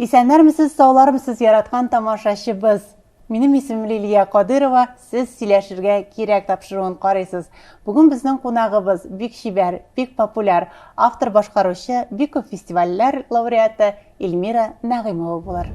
Исәннәрмесез, саулармсыз, яраткан тамашачыбыз. Минем исемем Лилия Кадырова, сез сөйләшергә кирәк тапшыруын карыйсыз. Бүген безнең кунагыбыз бик чибәр, бик популяр, автор башкаручы, бик күп фестивальләр лауреаты Эльмира Нәгыймова булыр.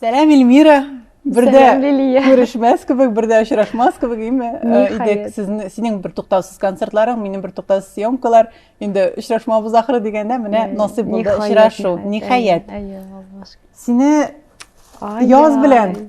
Сәлам, Эльмира. Бердә күрешмәс кебек, бердә очрашмас кебек име? Э, идек сезне, синең бер туктаусыз концертларың, минем бер туктаусыз съемкалар. Инде очрашмабыз ахыры дигәндә менә насыйп булды очрашу. Ниһаять. Сине яз белән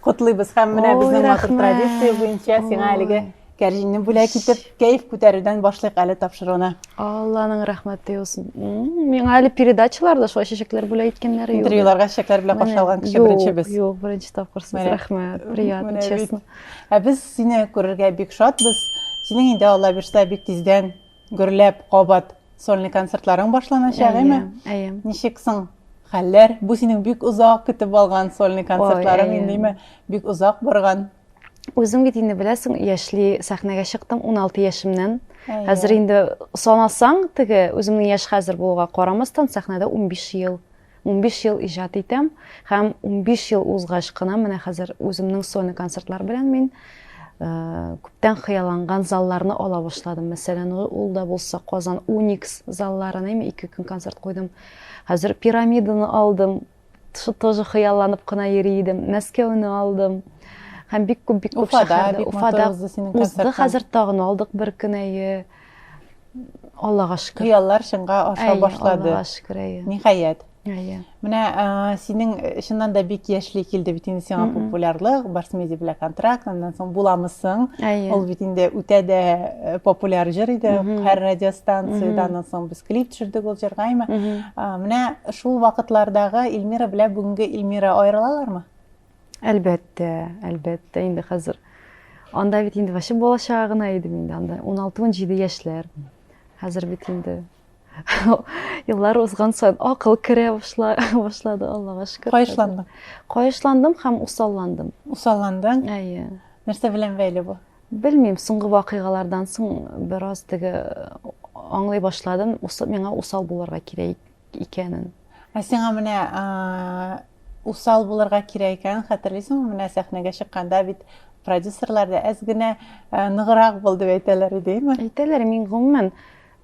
Котлыйбыз һәм менә безнең матур традиция буенча сиңа әлеге кәрҗинне бүләк итеп, кәйф күтәрүдән башлыйк әле тапшыруны. Алланың рәхмәте яусын. Миңа әле передачаларда шулай чәчәкләр бүләк иткәннәре юк. Интервьюларга чәчәкләр белән каршы алган кеше беренче без. Юк, беренче тапкыр сез рәхмәт. Приятно, честно. Ә без сине күрергә бик шатбыз. Синең инде Алла бирсә бик тиздән Гөрләп, кабат сольный концертларың башланачак, әйме? Әйе. Ничек соң хәлләр? Бу синең бик озак көтеп алган сольный концертларың индеме? Бик озак барган. Үзең бит инде беләсең, яшьли сәхнәгә чыктым 16 яшемнән. Хәзер инде санасаң, теге үземнең яшь хәзер булуга карамастан, сәхнәдә 15 ел. Унбиш ел иҗат итәм һәм унбиш ел узгач кына менә хәзер үземнең сольный концертлар белән мин күптән хыялланган залларны ала башладым. Мәсәлән, ул да булса Казан Уникс заллары, нәме ике көн концерт куйдым. Хәзер пирамиданы алдым. Шу тоже хыялланып кына йөри идем. Мәскәүне алдым. Һәм бик күп бик күп шәһәрдә Уфада узды хәзер тагын алдык бер көн әйе. Аллага шөкер. Хыяллар чынга аша башлады. Аллага шөкер, әйе. Ниһаять. Әйе. Менә синең чыннан да бик яшьли килде бит инде сиңа популярлык, Барсмеди белән контракт, аннан соң буламысың. Әйе. Ул бит инде үтә дә популяр җыр иде, һәр радиостанциядә, аннан соң без клип төшердек ул җырга, әйме. Менә шул вакытлардагы Эльмира белән бүгенге Эльмира аерылалармы? Әлбәттә, әлбәттә, инде хәзер. Анда бит инде вообще бала чага гына идем инде анда. 16-17 яшьләр. Хәзер бит инде еллар узган саен акыл керә башлады, Аллага шөкер. Кайышландың? Кайышландым һәм усалландым. Усалландың? Әйе. Нәрсә белән бәйле бу? Белмим, соңгы вакыйгалардан соң бераз теге аңлый башладым, миңа усал булырга кирәк икәнен. Ә сиңа менә усал булырга кирәк икәнен хәтерлисеңме? Менә сәхнәгә чыкканда бит продюсерлар да әз генә ныграк бул дип әйтәләр иде, әйме? Әйтәләр, мин гомумән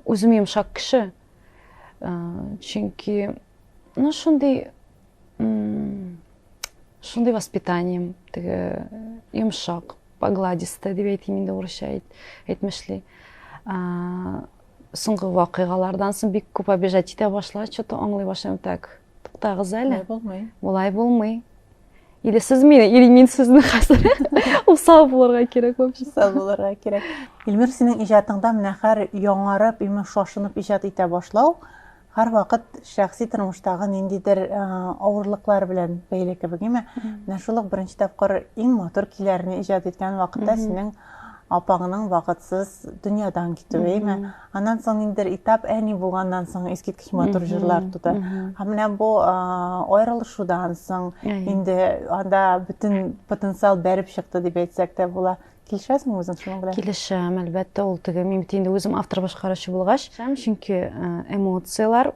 үзем йомшак кеше. Чөнки ну шундый шундый воспитанием теге йомшак, погладистая дип әйтим инде урысча әйтмешли. Соңгы вакыйгалардан соң бик күп обижать итә башла, что-то аңлый башлыйм так. Туктагыз әле. Булмый. Болай булмый. Или сез мине, или мин сезне хәзер. Усал булырга кирәк вообще. Усал булырга кирәк. Илмир, синең иҗатыңда менә хәр яңарып, имеш шашынып иҗат итә башлау, Һәрвакыт шәхси тормыштагы ниндидер авырлыклар белән бәйле кебек, әйме? Менә шул ук беренче тапкыр иң матур көйләрне иҗат иткән вакытта синең апаңның вакытсыз дөньядан китүе, әйме? Аннан соң ниндидер этап әни булганнан соң искиткеч матур җырлар туды. Һәм менә бу аерылышудан соң инде анда бөтен потенциал бәреп чыкты дип әйтсәк тә була. килешәсеңме үзең шуның белән килешәм әлбәттә ул теге мин бит инде үзем автор башкаручы булгач чөнки э, эмоциялар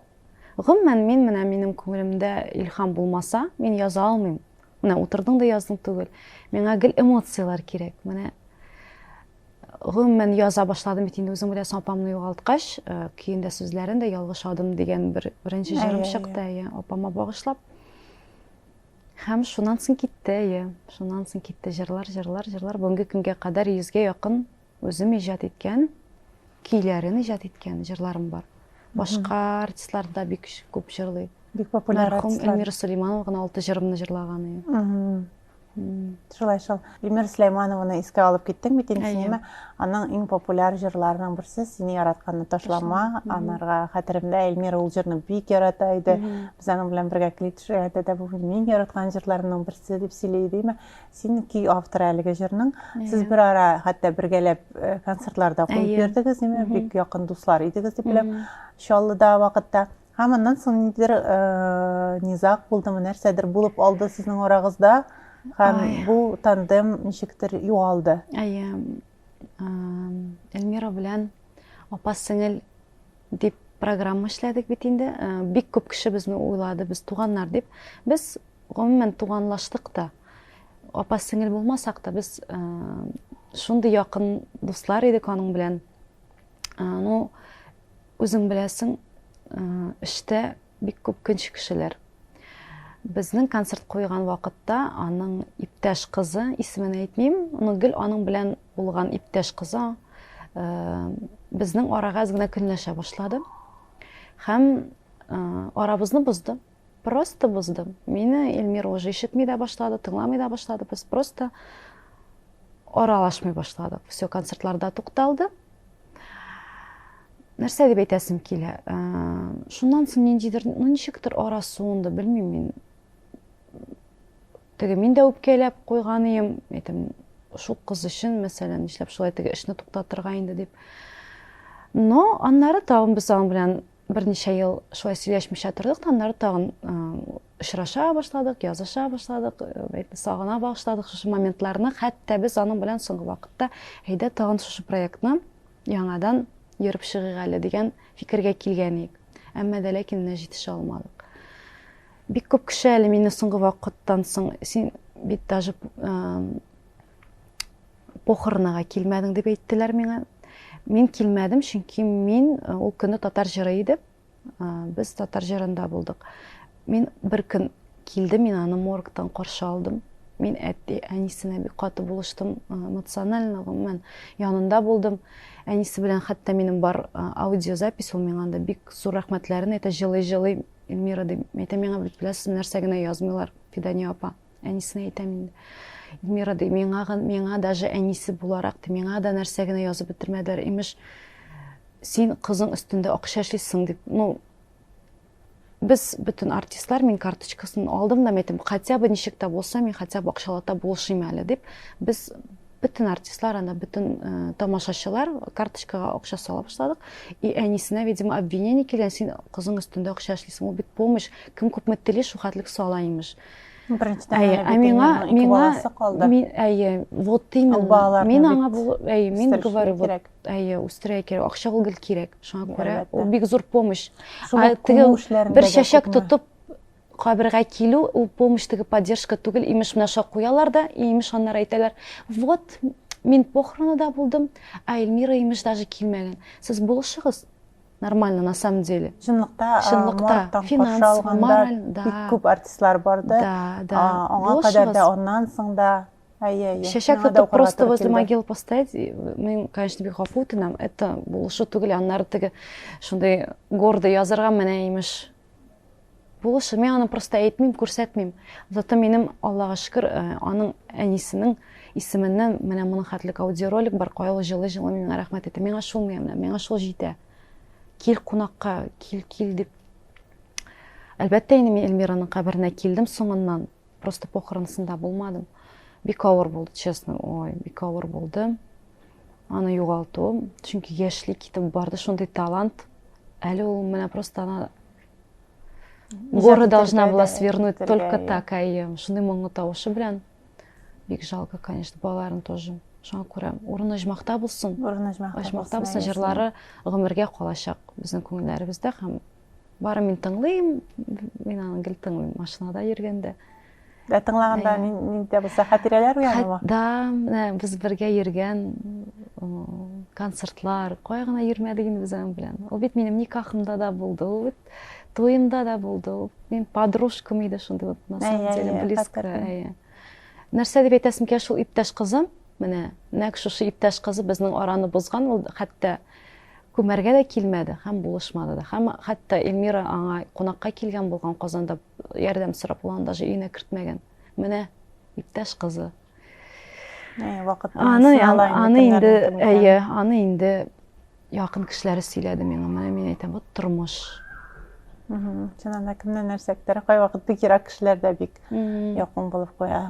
гомумән мин менә минем күңелемдә илһам булмаса мин яза алмыйм менә утырдың да яздың түгел миңа гел эмоциялар кирәк менә гомумән яза башладым бит инде үзең беләсең апамны югалткач э, көен дә сүзләрен дә ялгыш адым дигән бер беренче җырым чыкты иә апама багышлап Һәм шуннан соң китте, әйе, шуннан соң китте җырлар, җырлар, җырлар. Бүгенге көнгә кадәр йөзгә якын үзем иҗат иткән, көйләрен иҗат иткән җырларым бар. Башка артистлар да бик күп җырлый. Бик популяр артистлар. Мәрхүм Эльмира Сулейманова гына алты җырымны җырлаган. Шулай шул. Ильмира Сөләйманованы искә алып киттең бит инде, ниме? Аның иң популяр җырларының берсе Сине яратканны ташлама. Анарга хәтеремдә Ильмира ул җырны бик ярата иде. Без аның белән бергә клип төшергәндә дә бу мин яраткан җырларымның берсе дип сөйли идеме? Син ки авторы әлеге җырның. Сез бер ара хәтта бергәләп э, концертларда куеп йөрдегез, ниме? Бик якын дуслар идегез дип беләм. Чаллыда вакытта Һәм аннан соң ниндидер низаг булдымы, нәрсәдер булып алды сезнең арагызда һәм бу тандем ничектер югалды. Әйе. Эльмира белән апа сеңел дип программа эшләдек бит инде. Бик күп кеше безне уйлады, без туганнар дип. Без гомумән туганлаштык та. Апа сеңел булмасак та без шундый якын дуслар идек аның белән. Ну, Үзең беләсең, эштә бик күп көнче кешеләр. Безнең концерт куйган вакытта аның иптәш кызы, исемен әйтмим, но гел аның белән булган иптәш кызы безнең арага әз генә көнләшә башлады. Һәм арабызны бозды. Просто боздым. Мине Эльмира уже ишетми дә башлады, тыңламый да башлады. Без просто аралашмый башладык. Все, концертларда тукталды. Нәрсә дип әйтәсем килә? Э, шуннан соң ниндидер, ну ничектер ара суынды, белмим мин. Теге мин дә үпкәләп куйган идем, әйтем, шул кыз өчен, мәсәлән, нишләп шулай теге эшне туктатырга инде дип. Но аннары тагын без аның белән Берничә ел шулай сөйләшмичә тордык та, аннары тагын очраша башладык, языша башладык, сагына башлыдык шушы моментларны. Хәтта без аның белән соңгы вакытта әйдә тагын шушы проектны яңадан йөреп чыгыйк әле дигән фикергә килгән идек. Әмма дә ләкин менә җитешә алмадык. Бик күп кеше әле мине соңгы вакыттан соң син бит даже Похоронага килмәдең дип әйттеләр миңа. Мин килмәдем, чөнки мин э, ул көне татар җыры иде. Э, без татар җырында булдык. Мин бер көн килде, мин аны моргтан каршы алдым. Мин әти, әнисенә бик каты булыштым, э, эмоционально гомумән янында булдым. Әнисе белән хәтта минем бар аудиозапись, ул миңа анда бик зур рәхмәтләрен әйтә, җылый-җылый Эльмира дип әйтә миңа, бит беләсез, нәрсә генә язмыйлар, Фидания апа. Әнисенә әйтәм инде. Эльмира ди, миңа, миңа даже әнисе буларак, ди, миңа да нәрсә генә язып бетермәделәр. Имеш, син кызың өстендә акча эшлисең дип. Ну, без бөтен артистлар мин карточкасын алдым да әйттем хотя бы ничек тә булса мин хотя бы акчалата булышыйм әле дип без бөтен артистлар анда бөтен ә, тамашачылар карточкага акча сала башладык и әнисенә видимо обвинение килгән син кызың өстендә акча эшлисең ул бит помощь кем күпме тели шул хәтлек сала имеш Әйе, ә миңа, миңа, мин, әйе, вот именно, мин аңа бу, әйе, мин говорю, вот, әйе, үстерә кирәк, акча ул гел кирәк, шуңа күрә, ул бик зур помощь. Ә теге бер чәчәк тотып, кабергә килү, ул помощь теге поддержка түгел, имеш менә шуңа куялар да, имеш аннары әйтәләр, вот, мин похоронада булдым, ә Эльмира имеш даже килмәгән. Сез булышыгыз, нормально на самом деле чынлыкта чынлыкта финанс мораль да бик күп артистлар барды да да аңа кадәр дә аннан соң да әйе әйе чәчәк тотып просто возле могил поставить мен конечно бик гафу үтенәм это булышу түгел аннары теге шундый гордый язырга менә имеш Булышы, мин аны просто әйтмим, күрсәтмим. Зато минем, Аллага шөкер, э, аның әнисенең исеменнән менә моның хәтлек аудиоролик бар, кайлы җылы җылы миңа рәхмәт әйтә. Миңа шул менә, миңа шул җитә. Кил кунакка, кил, кил дип. Әлбәттә инде мин Эльмираның каберенә килдем соңыннан. Просто похоронысында булмадым. Бик авыр булды, честно. Ой, бик авыр булды. Аны югалту, чөнки яшьли китеп барды, шундый талант. Әле ул менә просто ана Горы должна была свернуть только так, әйе. Шуны моңлы тавышы белән. Бик жалко, конечно, балаларын тоже. Шуңа күрә урыны җмакта булсын. Урыны җмакта. Җмакта булсын җырлары гомергә калачак безнең күңелләребездә һәм бары мин тыңлыйм, мин аны гел тыңлыйм машинада йөргәндә. Ә тыңлаганда нинди булса хәтирәләр уянамы? Да, менә без бергә йөргән концертлар, кая гына йөрмәдек инде без аның белән. Ул бит минем никахымда да булды, ул бит туемда да булды. Ул минем подружкам иде шундый вот на самом деле близко. Нәрсә дип әйтәсем килә шул иптәш кызым, менә нәкъ шушы иптәш кызы безнең араны бозган, ул хәтта күмәргә дә килмәде һәм булышмады да. Һәм хәтта Эльмира аңа кунакка килгән булган Казанда Ярдәм сорап ул аны даже өенә кертмәгән. Менә иптәш кызы. Э, вакытта аны аны инде әйе, аны инде якын кешеләре сөйләде миңа. Менә мин әйтәм, вот тормыш. Чыннан да кемнән нәрсә көтәргә кайвакыт бик ерак кешеләр дә бик якын булып куя.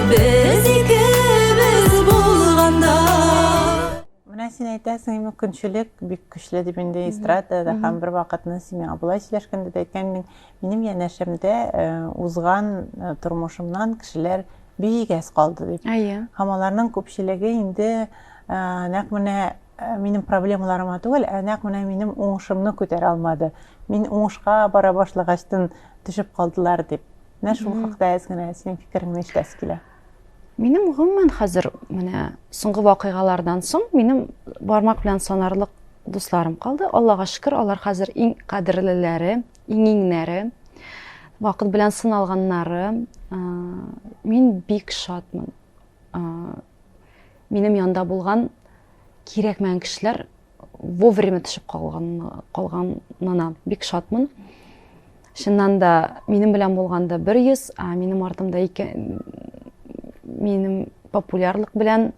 Без икебез булганда Менә син әйтәсең, мөмкинчелек бик көчле дип инде эстрадада һәм бер вакытны син миңа болай сөйләшкәндә дә әйткән идең, минем янәшәмдә э, узган э, тормышымнан кешеләр бик әз калды дип. Әйе. Һәм аларның күпчелеге инде э, нәкъ менә э, минем проблемаларыма түгел, ә нәкъ менә минем уңышымны күтәрә алмады. Мин уңышка бара башлагачтын төшеп калдылар дип. Менә шул хакта әз генә синең фикереңне ишетәсе килә. Минем гомумән хәзер менә соңгы вакыйгалардан соң минем бармак белән санарлык дусларым калды. Аллага шөкер, алар хәзер иң кадерлеләре, иң иңнәре, вакыт белән сыналганнары. Мин бик шатмын. Минем янда булган кирәкмәгән кешеләр вовремя төшеп калганына бик шатмын. Чыннан да минем белән булганда 100, а минем артымда ике минем популярлык белән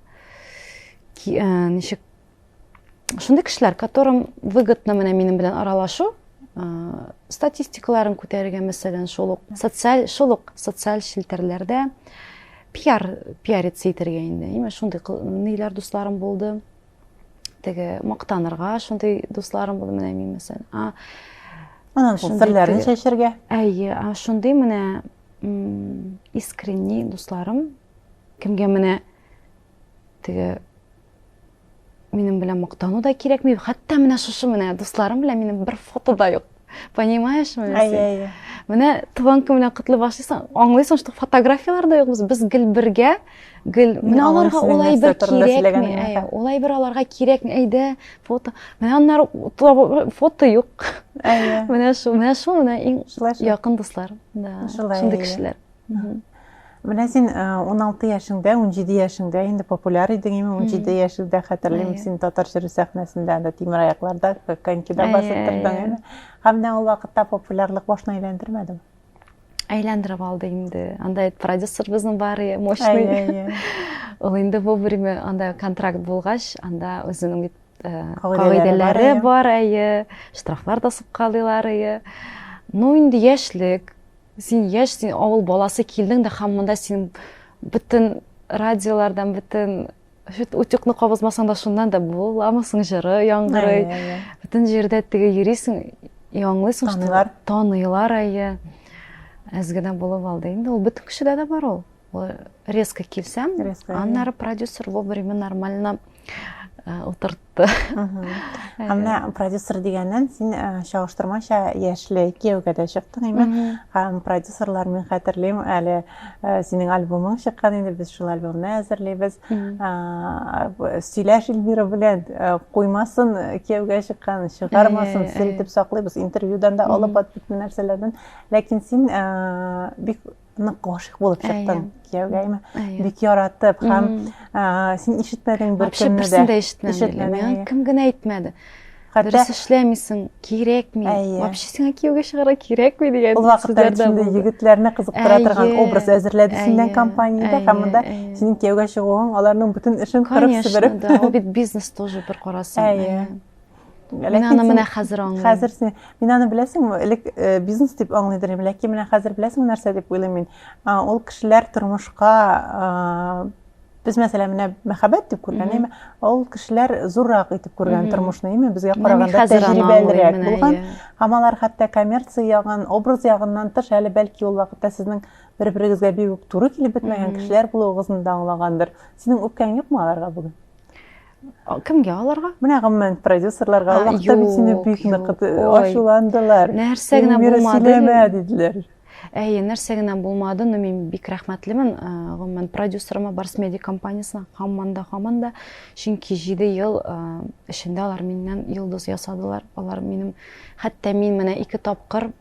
э, ничек шундый кешеләр, которым выгодно менә минем белән аралашу, э, статистикаларын күтәрергә, мәсәлән, шул ук социаль шул ук социаль челтәрләрдә пиар пиариться итәргә инде. Именно шундый ниләр дусларым булды. теге мактанырга шундый дусларым булды менә мин мәсәлән а анан шул серләрен чәчергә әйе а шундый менә искренний дусларым кемгә менә теге минем белән мактану да кирәкми хәтта менә шушы менә дусларым белән минем бер фото да юк понимаешь ме әйе әйе менә туган көн белән котлый башлыйсың аңлыйсың что фотографиялар да юк без без гел бергә гел менә аларга улай бер кирәкми әйе улай бер аларга кирәкми әйдә фото менә аннары фото юк әйе менә шул менә шул менә иң якын дуслар да шундый кешеләр Менә син 16 э, яшеңдә, 17 яшеңдә инде популяр идең, име 17 яшеңдә хәтерлим син татар җыры сәхнәсендә дә тимер аякларда конькида басып тордың инде. Һәм менә ул вакытта популярлык башны әйләндермәдеме? Әйләндереп алды инде. Анда продюсер безнең бар, мощный. Ул инде вовремя анда контракт булгач, анда үзенең бит э, кагыйдәләре бар, әйе, штрафлар да суккалыйлар, әйе. Ну инде яшьлек, Син яшь, син авыл баласы килдең дә һәм монда син бөтен радиолардан, бөтен утюгны кабызмасаң да шуннан да буламы соң җыры яңгырый. Бөтен җирдә теге йөрисең, яңлыйсың, таныйлар. Таныйлар әйе. Әз генә булып алды. Инде ул бөтен кешедә дә бар ул. резко килсәм аннары продюсер вовремя нормально утыртты әмма продюсер дигәннән син чагыштырмача яшьле кияүгә дә чыктың име һәм продюсерлар мин хәтерлим әле синең альбомың чыккан инде без шул альбомны әзерлибез сөйләш эльмира белән куймасын кияүгә чыккан чыгармасын сер итеп саклыйбыз интервьюдан да алып бит нәрсәләрдән ләкин син бик нык гашыйк булып чыктың кияүгәме бик яратып һәм син ишетмәдең бер кемне дә дә ишетмәдең кем генә әйтмәде дөрес эшләмисең кирәкми вообще сиңа кияүгә чыгарга кирәкми дигән ул вакытта шундый егетләрне кызыктыра торган образ әзерләде синнән компаниядә һәм монда синең кияүгә чыгуың аларның бөтен эшен кырып себереп конечно да ул бит бизнес тоже бер карасаң Мин аны менә хәзер аңлыйм. Хәзер син, мин аны беләсеңме, элек э, бизнес дип аңлый идем, ләкин менә хәзер беләсеңме нәрсә дип уйлыйм мин. Ул кешеләр тормышка без мәсәлән менә мәхәббәт дип күргән әйме ул кешеләр зуррак итеп күргән тормышны әйме безгә караганда тәҗрибәлерәк булган һәм алар хәтта коммерция ягын образ ягыннан тыш әле бәлки ул вакытта сезнең бер берегезгә бик үк туры килеп бетмәгән кешеләр булуыгызны да аңлагандыр синең үпкәң юкмы аларга бүген Кемгә аларга? Менә гомумән продюсерларга Аллаһ та бит сине бик нык ачуландылар. Нәрсә генә булмады. диделәр. Әйе, нәрсә генә булмады, но мин бик рәхмәтлемен гомумән продюсерыма, Барс Медиа компаниясенә һаман да, һаман да. Чөнки 7 ел эчендә алар миннән йолдыз ясадылар. Алар минем хәтта мин менә ике тапкыр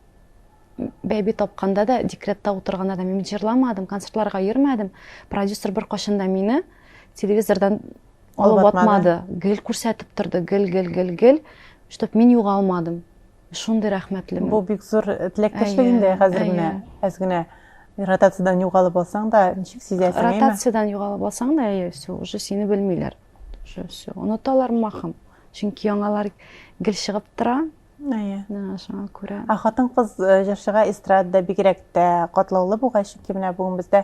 бәби тапканда да декретта утырганда да мин җырламадым концертларга йөрмәдем продюсер бер кашын да мине телевизордан алып атмады гел күрсәтеп торды гел гел гел гел чтоб мин югалмадым шундый рәхмәтлемен бу бик зур э, теләктәшлек инде хәзер менә әз генә ротациядан югалып алсаң да ничек сизәсең ротациядан югалып алсаң да әйе все уже сине белмиләр уже все оныталар махым чөнки яңалар гел чыгып тора Әйе. Шуңа күрә. Ә хатын-кыз э, җырчыга эстрадада бигрәк тә катлаулы бугай, чөнки менә бүген бездә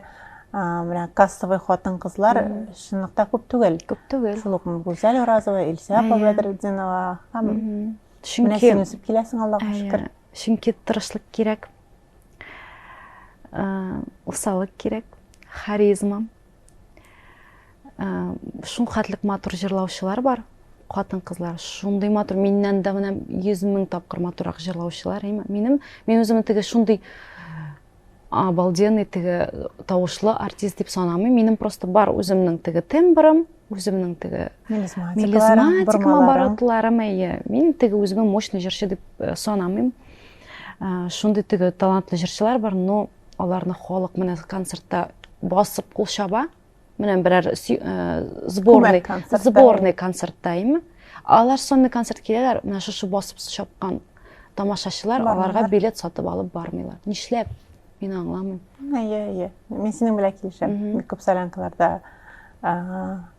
менә кассовый хатын-кызлар чынлыкта күп түгел. Күп түгел. Шул ук Гүзәл Уразова, Илсә апа Бәдретдинова һәм менә син үсеп киләсең, Аллага шөкер. Чөнки тырышлык кирәк. Усалык кирәк, харизма. Шул хәтлек матур җырлаучылар бар, катын кызлар шундый матур миннән дә менә йөз мең тапкыр матурак җырлаучылар минем мин үземне теге шундый обалденный теге тавышлы артист дип санамыйм минем просто бар үземнең теге тембрым үземнең теге мелизматикам оборотларым әйе мин теге үземә мощный җырчы дип э, санамыйм э, шундый теге талантлы җырчылар бар но Аларны халык менә концертта басып кул чаба. Менә берәр сборный, сборный концертта име. Алар сонный концерт киләләр, менә шушы басып чапкан тамашачылар аларга билет сатып алып бармыйлар. Нишләп? Мин аңламыйм. Әйе, әйе. Мин синең белән килешәм. Бик күп солянкаларда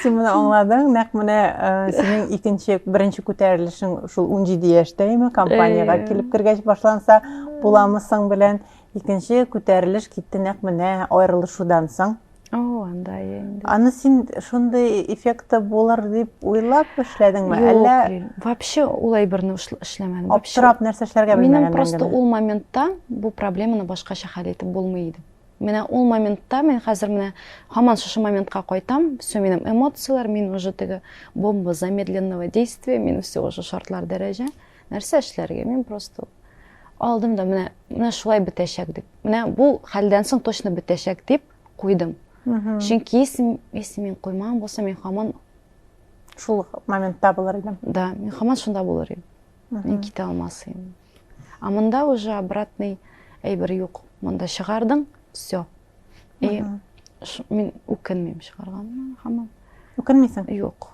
Син моны аңладың, нәкъ менә э, синең икенче, беренче күтәрелешең шул 17 яшьтәме компаниягә э. килеп кергәч башланса, буламысың белән икенче күтәрелеш китте нәкъ менә аерылышудан соң. О, анда инде. Аны син шундый эффекты булыр дип уйлап эшләдеңме? Әллә вообще улай берне эшләмәдем. Аптырап нәрсә эшләргә белмәгән. Минем просто ул моментта бу проблеманы башкача хәл итеп булмый иде. Менә ул моментта мин хәзер менә һаман шушы моментка кайтам. Все минем эмоцияләр, мин уже теге бомба замедленного действия, мин все уже шартлар дәрәҗә. Нәрсә эшләргә? Мин просто алдым да менә менә шулай бетәчәк дип. Менә бу хәлдән соң точно бетәчәк дип куйдым. Чөнки если мин куймаган булсам, мин хаман шул моментта булыр идем. Да, мин хаман шунда булыр идем. Мин китә алмас идем. А монда уже обратный әйбер юк. Монда чыгардың, все. И мин үкенмим чыгарганына хаман. Үкенмисең? Юк.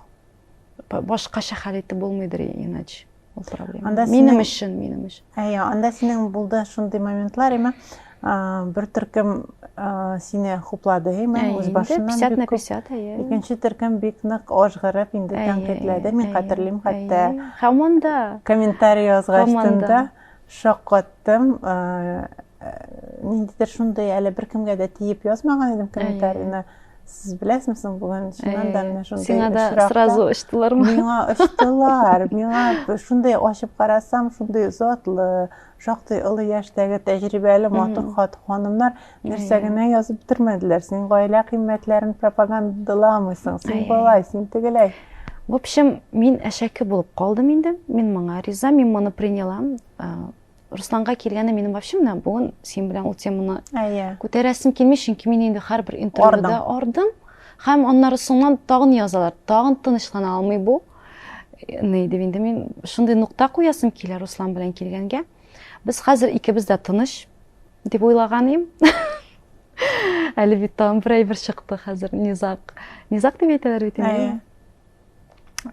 башкача хәл итеп булмыйдыр иначе ул проблема анда минем өчен минем өчен әйе анда синең булды шундый моментлар әмма бер төркем сине хуплады әмма үз башыннан пятьдесят на пятьдесят әйе икенче төркем бик нык ажгырып инде тәнкыйтьләде мин хәтерлим хәтта һаман да комментарий язгач тында шаккаттым ниндидер шундый әле беркемгә дә тиеп язмаган идем комментарийны сез беләсең соң бүген чыннан да менә шундый сиңа да сразу очтылармы миңа очтылар миңа шундый ачып карасам шундый затлы шактый олы яшьтәге тәҗрибәле матур хат ханымнар нәрсә генә язып бетермәделәр син гаилә кыйммәтләрен пропагандаламыйсың син болай син тегеләй в общем мин әшәке булып калдым инде мин моңа риза мин моны принялам Русланга килгәне минем вообще менә бүген син белән ул теманы күтәрәсем килми, чөнки мин инде һәрбер интервьюда ардым. Һәм аннары соңнан тагын язалар, тагын тынычлана алмый бу. Ни дип инде мин шундый нукта куясым килә Руслан белән килгәнгә. Без хәзер икебез дә тыныч дип уйлаган идем. Әле бит тагын бер әйбер чыкты хәзер Низак. Низак дип әйтәләр бит инде.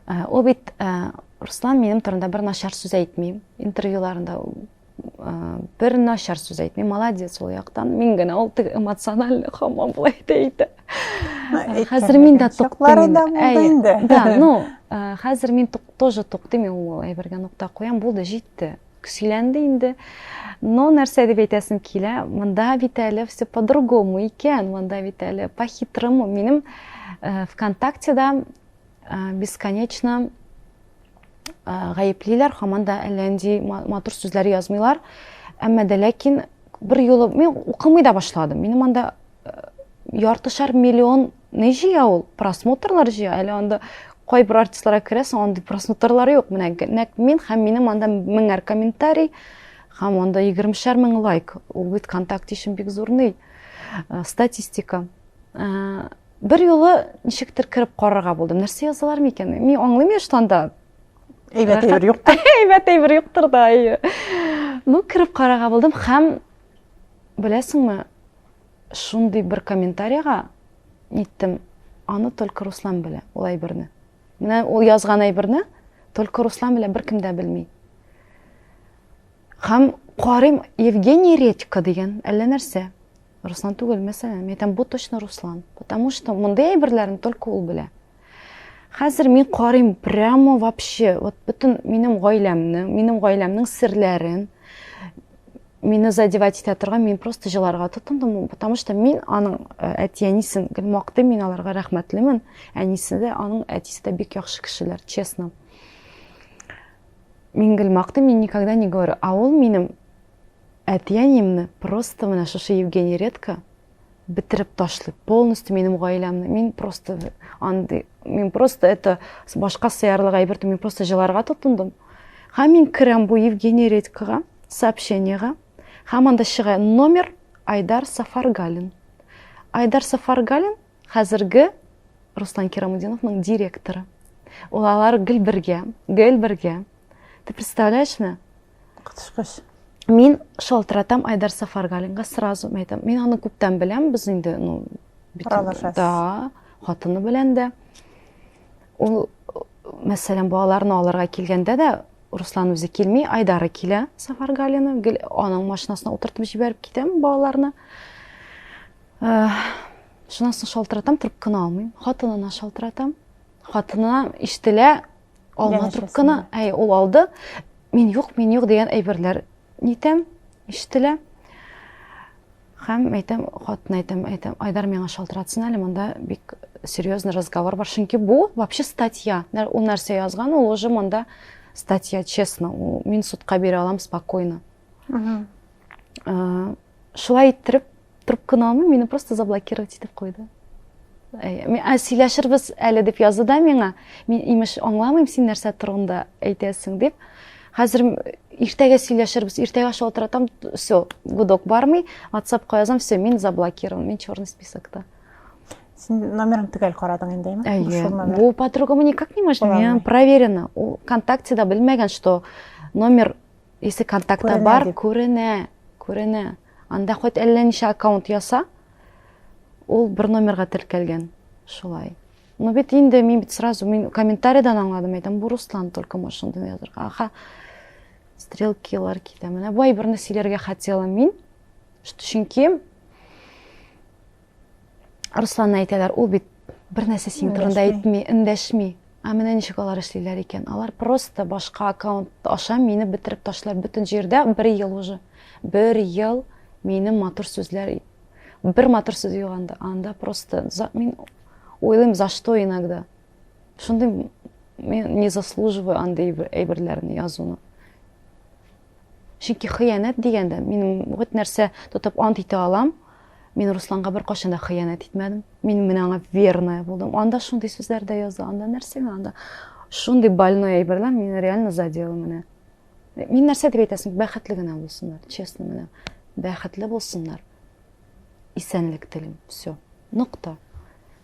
Ә, ул бит ә, Руслан минем турында бер начар сүз әйтми. Интервьюларында ә, бер начар сүз әйтми. Молодец ул яктан. Мин генә ул теге эмоциональ хамам булай әйтә. Хәзер мин дә туктым. Да, ну, хәзер мин тоже туктым, ул әйбергә нокта куям, булды, җитте. Сөйләнде инде. Но нәрсә дип әйтәсем килә, монда бит әле все по-другому икән, монда бит әле по-хитрому. Минем э, ВКонтактеда э, бесконечно э, гаеплиләр, хаман да әллә нинди матур сүзләр язмыйлар. Әмма дә ләкин бер юлы мин укымый да башладым. Минем анда яртышар миллион не җыя ул просмотрлар җыя әле анда кайбер артистларга керәсең андый просмотрлар юк менә нәкъ мин һәм минем анда меңәр комментарий һәм анда егермешәр мең лайк ул бит контакт өчен бик зур ни э, статистика э, бер юлы ничектер кереп карарга булдым нәрсә язалар микән мин аңлыйм яшь анда әйбәт әйбер юктыр әйбәт әйбер юктыр да әйе ну кереп карарга булдым һәм беләсеңме Шундый бер комментарига ниттем, аны только Руслан белә, ул әйберне. Менә ул язган әйберне только Руслан белә, беркем дә белми. Һәм карыйм Евгений Редько дигән әллә нәрсә. Руслан түгел, мәсәлән, әйтәм, бу точно Руслан, потому что мондый әйберләрен только ул белә. Хәзер мин карыйм прямо вообще, вот бөтен минем гаиләмне, минем гаиләмнең серләрен мине задевать итә торган, мин просто җыларга тотындым, потому что мин аның э, әти әнисен гел мактыйм, мин аларга рәхмәтлемен. Әнисе дә, аның әтисе дә бик яхшы кешеләр, честно. Мин гел мактыйм, мин никогда не говорю, а ул минем әти әниемне просто менә шушы Евгений Редко бетереп ташлый полностью минем гаиләмне мин просто андый мин просто это башка сыярлык әйбер мин просто җыларга тотындым һәм мин керәм бу евгений редькага сообщениега һәм анда чыга номер айдар сафаргалин айдар сафаргалин хәзерге руслан кирамудиновның директоры ул алар гел бергә гел бергә ты представляешь мне Котышкыч. Мин шалтыратам Айдар Сафаргалинга сразу әйтәм. Мин аны күптән беләм, без инде, ну, аралашасыз. Да, хатыны белән дә. Ул, мәсәлән, балаларны алырга килгәндә дә Руслан үзе килми, Айдары килә Сафаргалина, гел аның машинасына утыртып җибәреп китәм балаларны. Э, Шуннан соң шалтыратам, трубканы алмыйм. Хатынына шалтыратам. Хатынына ишетелә, алма трубканы, әй, ул алды. Мин юк, мин юк дигән әйберләр нитәм, ишетелә. Хәм әйтәм, хатына әйтәм, әйтәм, Айдар миңа шалтыратсын әле, монда бик серьезный разговор бар. Чөнки бу вообще статья. Ул нәрсә язган, ул уже монда статья, честно. Мин судка бирә алам спокойно. шулай иттереп трубканы алмый мине просто заблокировать итеп куйды ә, сөйләшербез әле дип язды да миңа мин имеш аңламыйм син нәрсә турында әйтәсең дип хәзер иртәгә сөйләшербез иртәгә аша утыратам все гудок бармый ватсапка язам все мин заблокирован мин черный списокта сен номерын төгәл карадың инде әйе бу подругама никак не можно проверено ул вконтактеда белмәгән что номер Если контактта бар, күренә, күренә. Анда хоть әллә ничә аккаунт яса, ул бер номерга теркәлгән. Шулай. Ну бит инде мин бит сразу мин комментарийдан аңладым, әйтәм, бу Руслан только может шундый язырга. Аха. Стрелкилар китә. Менә бу әйберне сөйләргә хотела мин. Чөнки Русланны әйтәләр, ул бит бер нәрсә синең турында әйтми, эндәшми. Ә менә ничек алар эшлиләр икән? Алар просто башка аккаунт аша мине бетереп ташлар бөтен җирдә бер ел уже. Бер ел минем матур сүзләр бер матур сүз юганда, анда просто за, мин уйлыйм, за что иногда. Шундый мин не заслуживаю андый әйберләрне язуны. Чөнки хыянәт дигәндә, мин вот нәрсә тотып ант итә алам, мин Русланга бер кашын да хыянәт итмәдем. Мин менә аңа верная булдым. Анда шундый сүзләр дә язды, анда нәрсә анда? Шундый больной әйберләр мине реально задело менә. Мин нәрсә дип әйтәсең? Бәхетле генә булсыннар, честно менә. Бәхетле булсыннар. исәнлек телим все нокта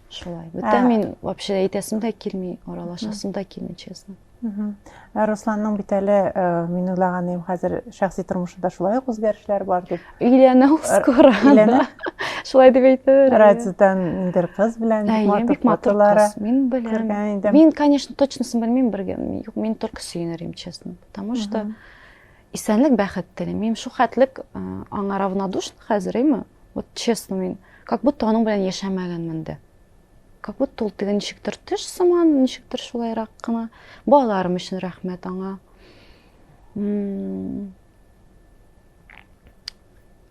шулай бүтә мин вообще әйтәсем дә килми аралашасым да килми честно ә русланның бит әле мин уйлаган идем хәзер шәхси тормышында шулай ук үзгәрешләр бар дип өйләнә ул скоро шулай дип әйтер радиодан бер кыз белән бик матур кыз мин беләм мин конечно точносын белмим бер юк мин только сөенер едем честно потому что Исәнлек бәхет телим. Мин шухәтлек аңа равнодушна хәзер, име? Вот честно мин, как будто аның белән яшәмәгәнмен дә. Как будто ул теге ничектер төш сыман, ничектер шулайрак кына. Балаларым өчен рәхмәт аңа.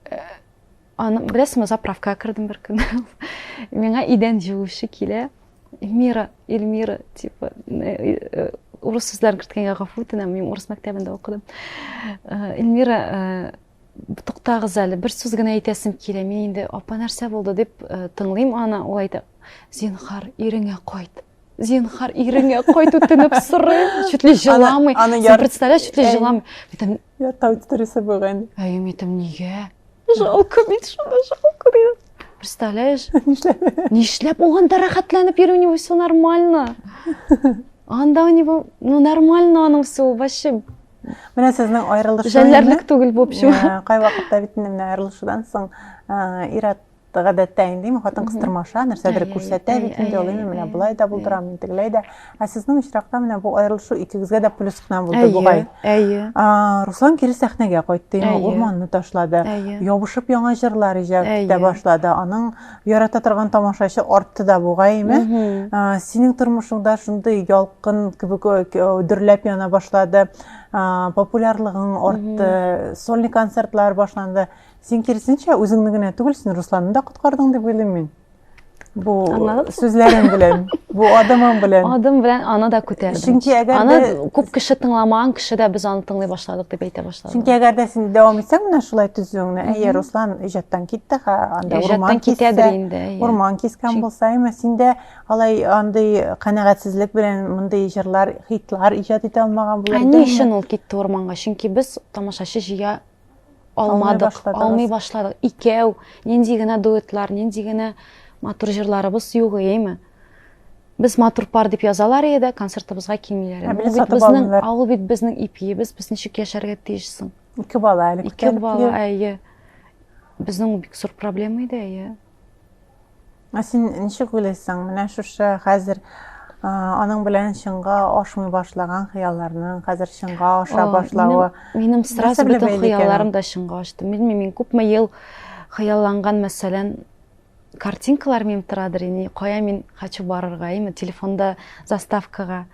Э, Аны беләсеңме, заправкага кердем бер көн. Миңа идән җыучы килә. Эльмира, Эльмира, типа, урыс сүзләрен керткәнгә гафу үтенәм, мин урыс мәктәбендә укыдым. Эльмира, туктагыз әле, бер сүз генә әйтәсем килә. Мин инде апа нәрсә булды дип тыңлыйм аны, ул әйтә, "Зинхар, иреңә кайт." Зинхар, иреңә кайт, үтенеп сорыйм. Чүтли җыламый. Син представляешь, чүтли җыламый. Я тау тетрисе бүген. Әйем итем нигә? Жалко бит шуны, жалко дигән. Представляешь? Нишләп? Нишләп ул анда рәхәтләнеп йөри, у него все нормально. Анда у него, ну, нормально аның все, вообще. Менә сезнең аерылышу. Жәлләрлек түгел бу общем. Кай вакытта бит менә аерылышудан соң Ират гадәттә инде ме хатын кыз тырмаша нәрсәдер күрсәтә бит инде ул инде менә болай да булдырам мин тегеләй дә ә сезнең очракта менә бу аерылышу икегезгә дә плюс кына булды бугай әйе руслан кире сәхнәгә кайтты инде урманны ташлады ябышып яңа җырлар иҗат итә башлады аның ярата торган тамашачы артты да бугай име синең тормышыңда шундый ялкын кебек дөрләп яна башлады популярлыгың артты сольный концертлар башланды Син киресенчә үзеңне генә түгел, син Русланны да коткардың дип уйлыйм мин. Бу сүзләрең белән, бу адымың белән. Адым белән аны да күтәрдем. Чөнки әгәр аны күп кеше тыңламаган кеше дә без аны тыңлый башладык дип әйтә башладык. Чөнки әгәр дә син дәвам итсәң менә шулай төзүеңне, әйе, Руслан иҗаттан китте, ха, анда урман китәдер инде. Урман кискән булса, әмма синдә алай андый канәгатьсезлек белән мондый җырлар, хитлар иҗат итә алмаган булыр. Ә ни өчен ул китте урманга? Чөнки без тамашачы җыя алмадык, алмый башладык. Икәү, нинди генә дуэтлар, нинди генә матур җырларыбыз юк, әйеме? Без матур пар дип язалар иде, концертыбызга килмиләр. Ул бит безнең, ул бит безнең ипиебез, без ничек яшәргә тиешсең? Ике бала әле. Ике бала, әйе. Безнең бик зур проблема иде, әйе. Ә син ничек уйлыйсың, менә шушы хәзер аның белән чынга ашмый башлаган хыялларның хәзер чынга аша башлавы минем сразу бөтен хыялларым да чынга ашты белмим мин күпме ел хыялланган мәсәлән картинкалар минем торадыр ини кая мин хочу барырга ими телефонда заставкага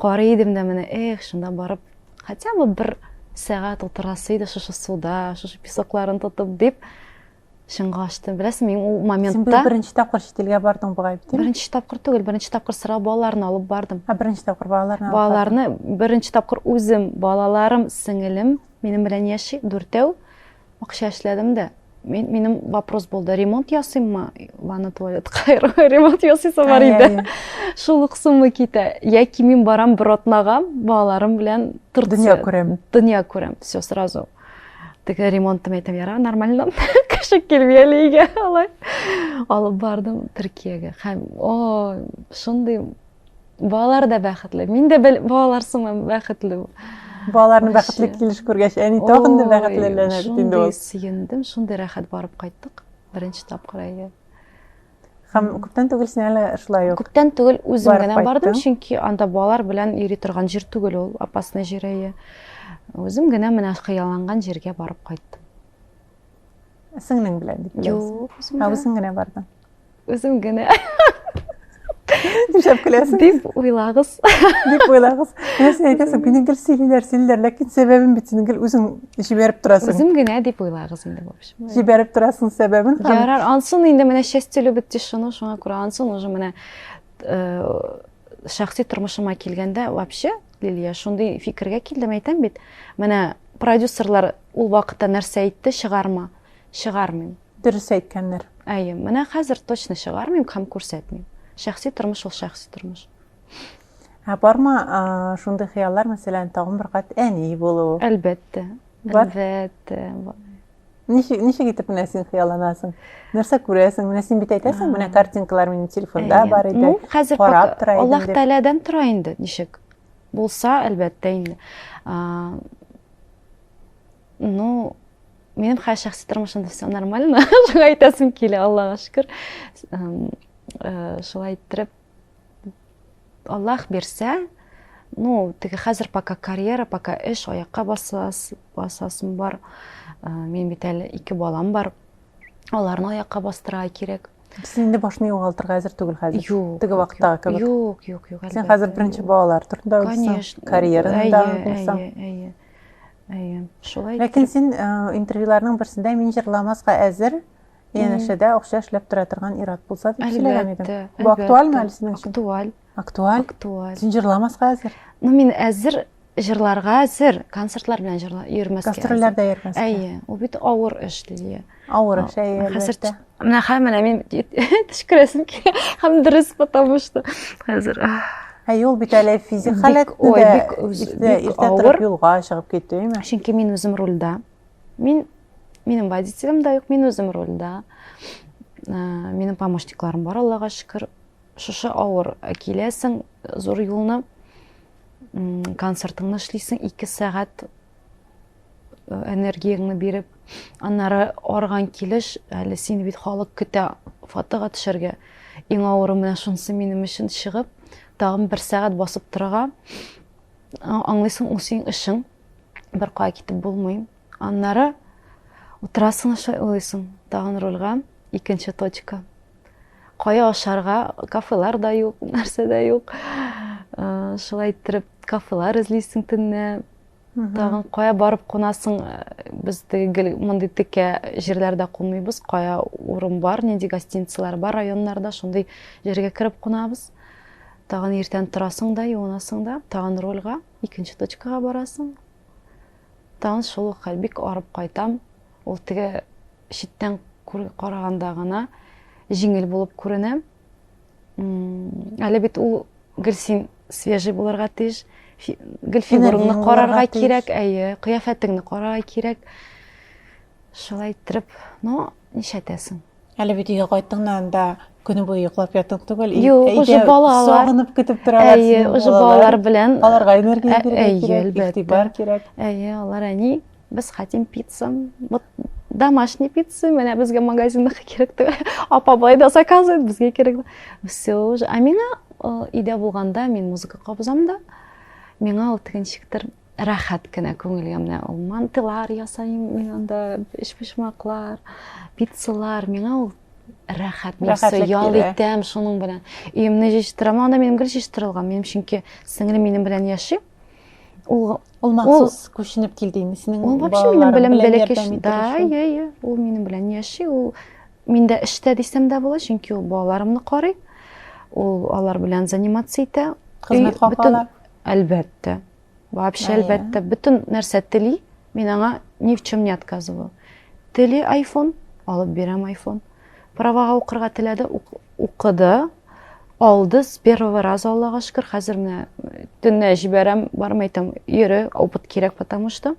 карый идем дә менә эх шунда барып хотя бы бер сәгать утырасы иде шушы суда шушы песокларын тотып дип шыңға ашты беләсеңме мин ул моментта син быел беренче тапкыр чит илгә бардың бугай бит беренче тапкыр түгел беренче тапкыр сыра балаларны алып бардым а беренче тапкыр балаларны балаларны беренче тапкыр үзем балаларым сеңелем минем белән яши дүртәү акча эшләдем дә мен, минем вопрос булды ремонт ясыйммы ванна туалетка ремонт ясыйсы бар иде шул ук сумма китә яки мин барам бер атнага балаларым белән дөнья күрәм дөнья күрәм все сразу теге ремонтты мен әйтәм яра нормально кеше келмей әле өйгә алай алып бардым төркиягә һәм о шундый балалар да бәхетле мин дә балалар сыман бәхетле балаларны бәхетле килеш күргәч әни тагын да бәхетлеләнә бит инде ул сөендем шундый рәхәт барып кайттык беренче тапкыр әйе Һәм күптән түгел син әле шулай ук. Күптән түгел үзем генә бардым, чөнки анда балалар белән йөри торган җир түгел ул, опасный җир әйе. Үзем генә менә хыялланган җиргә барып кайттым. Сеңнең белән дип беләсең. Юк, үзем генә. Үзем генә бардым. Үзем генә. Нишләп көләсең? Дип уйлагыз. Дип уйлагыз. Менә син әйтәсең, мине гел сөйлиләр, сөйлиләр, ләкин сәбәбен бит син гел үзең җибәреп торасың. Үзем генә дип уйлагыз инде, в общем. Җибәреп торасың сәбәбен. Ярар, ансын инде менә счастье любит тишину, шуңа күрә ансын уже менә э, шәхси тормышыма килгәндә вообще Лилия, шундый фикергә килдем, әйтәм бит. Менә продюсерлар ул вакытта нәрсә әйтте, чыгарма. Чыгармыйм. Дөрес әйткәннәр. Әйе, менә хәзер точно чыгармыйм һәм күрсәтмим. Шәхси тормыш ул шәхси тормыш. Ә барма шундый хыяллар, мәсәлән, тагын бер кат әни булу? Әлбәттә. Бар? Әлбәттә, бар. Ничек, ничек итеп менә син хыялланасың? Нәрсә күрәсең? Менә син бит әйтәсең, менә картинкалар минем телефонда бар иде. Ну, хәзер карап тора идем. Аллаһ Тәгаләдән тора инде, ничек? Булса, әлбәттә инде. Ну, минем хәзер шәхси тормышымда все нормально. Шуңа әйтәсем килә, Аллага шөкер. Э, шулай иттереп Аллах бирсә, ну, теге хәзер пока карьера, пока эш, аякка басас, басасым бар. Э, мин бит әле ике балам бар. Аларны аякка бастыра кирәк. Син инде башны югалтырга әзер түгел хәзер. Юк. Теге вакыттагы кебек. Юк, юк, юк. Син хәзер беренче балалар турында уйлыйсың. Карьераны да уйлыйсың. Әйе, әйе. Әйе. Шулай. Ләкин син э, интервьюларның берсендә мин җырламаска әзер, янәшәдә акча эшләп тора торган ир-ат булса дип сөйләгән идем. Бу актуальмы әле синең өчен? Актуаль. Актуаль? Актуаль. Син җырламаска әзер? Ну, мин әзер җырларга әзер, концертлар белән җырла йөрмәскә. Гастрольләрдә йөрмәскә. Әйе, ул бит авыр эш, Лилия. Авыр эш, әйе. Хәзер менә хәм менә мин төшкерәсем килә. Хәм дөрес, потому что хәзер. Әйе, ул бит әле физик халәттә. Ой, бик иртә торып юлга чыгып китү, әйме? Чөнки мин үзем рульдә. Мин, минем водителем да юк, мин үзем рульда. Ә, минем помощникларым бар, Аллага шөкер. Шушы авыр киләсең, зур юлны, концертыңны эшлисең, ике сәгать э, энергияңне биреп, аннары арган килеш, әле син бит халык көтә фотога төшәргә. Иң авыры менә шунысы минем өчен чыгып, тагын бер сәгать басып торырга. Аңлыйсың, ул синең эшең. бер кая китеп булмый. Аннары утырасың шулай уйлыйсың, тагын рульга икенче точка. Кая ашарга, кафелар да юк, нәрсә дә юк. Э, шулай иттереп кафелар эзлисең төнне. Тагын кая барып кунасың, э, без гел мондый текә җирләрдә кунмыйбыз, кая урын бар, нинди гостиницалар бар районнарда, шундый җиргә кереп кунабыз. Тагын иртән торасың да, юынасың да, тагын рульга. Икенче точкага барасың. Тагын шул ук хәл, бик арып кайтам. Ул теге читтән караганда гына җиңел булып күренә. Әле бит ул гел син свежий булырга тиеш. Гел фигурыңны карарга кирәк, әйе, кыяфәтеңне карарга кирәк. Шулай иттереп, но нишәтәсең? Әле бит өйгә кайттың да анда көне буе йоклап ятып түгел. Юк, уже балалар. Сагынып көтеп торалар. Әйе, уже балалар белән. Аларга энергия бирергә кирәк, игътибар кирәк. Әйе, алар әни, без хотим пицца. Вот домашний пицца, менә безгә магазинда кирәк түгел. Апа бай да заказывает, безгә кирәк. Все уже. А миңа өйдә булганда мин музыка кабызам да. Миңа ул тегенчектер Рәхәт кенә күңелгә менә ул мантылар ясыйм мин анда, өчпочмаклар, пиццалар. Миңа ул рәхәт, мин все ял итәм шуның белән. Өемне җыштырам, анда минем гел җыштырылган. Минем чөнки сеңлем минем белән яши. Ул ул махсус күченеп килдеме синең? Ул вообще минем белән бәләкәч. Да, я, я. Ул минем белән яши, ул миндә эштә дисәм дә була, чөнки ул балаларымны карый. Ул алар белән заниматься итә. Хезмәт хакы ала. Әлбәттә. Вообще, Әйе. әлбәттә, бөтен нәрсә тели, мин аңа ни в чем не отказываю. Тели айфон, алып бирәм айфон. Правага укырга теләде, укыды, алды с первого раза, Аллага шөкер, хәзер менә төнлә җибәрәм, бармый там, йөре, опыт кирәк, потому что.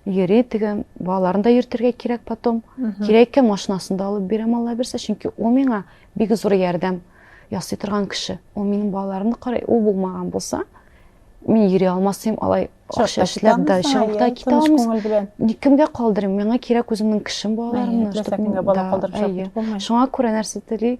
Йөри теге балаларын да йөртергә кирәк потом. Кирәк икән машинасын да алып бирәм Алла бирсә, чөнки ул миңа бик зур ярдәм ясый торган кеше. Ул минем балаларымны карый, ул булмаган булса, мин йөри алмас идем, алай акча эшләп дә чыгып китә алмас. Никемгә калдырыйм? Миңа кирәк үземнең кешем балаларымны. Шуңа күрә нәрсә тели?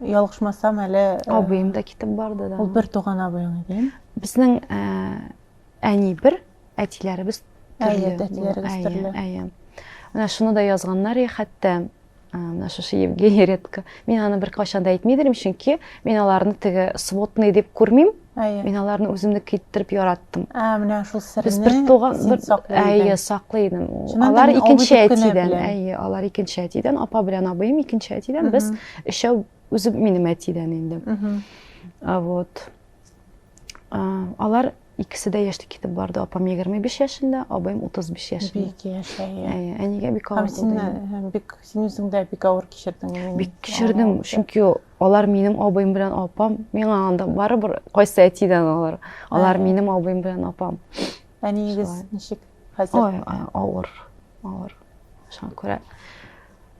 Ялгышмасам әле э, абыем да китеп барды да. Ул бер туган абыең иде. Безнең э, әни бер, әтиләребез төрле. Әйе, әтиләребез төрле. Әйе. Менә шуны да язганнар и хәтта э, менә шушы Евгений редко. Мин аны бер кайчан да әйтмидерим, чөнки мин аларны теге сводный дип күрмим. Әйе. Мин аларны үземнеке иттереп яраттым. Ә, менә шул сирне. Без бер туган бер саклый Әйе, саклый идем. Алар икенче әтидән. Әйе, алар икенче әтидән, апа белән абыем икенче әтидән. Без өчәү үзе минем әтидән инде. А вот. Алар икесе дә яшьтә китеп барды. Апам 25 яшендә, абыем 35 яшендә. Бик яшь, әйе. Әйе, әнигә бик авыр. Һәм син бик син үзең дә бик авыр кичердең. Бик кичердем, чөнки Алар минем абыем белән апам. Миңа анда барыбер кайсы әтидән алар. Алар минем абыем белән апам. Әниегез ничек? Хәзер. Ой, авыр. Авыр. Шуңа күрә.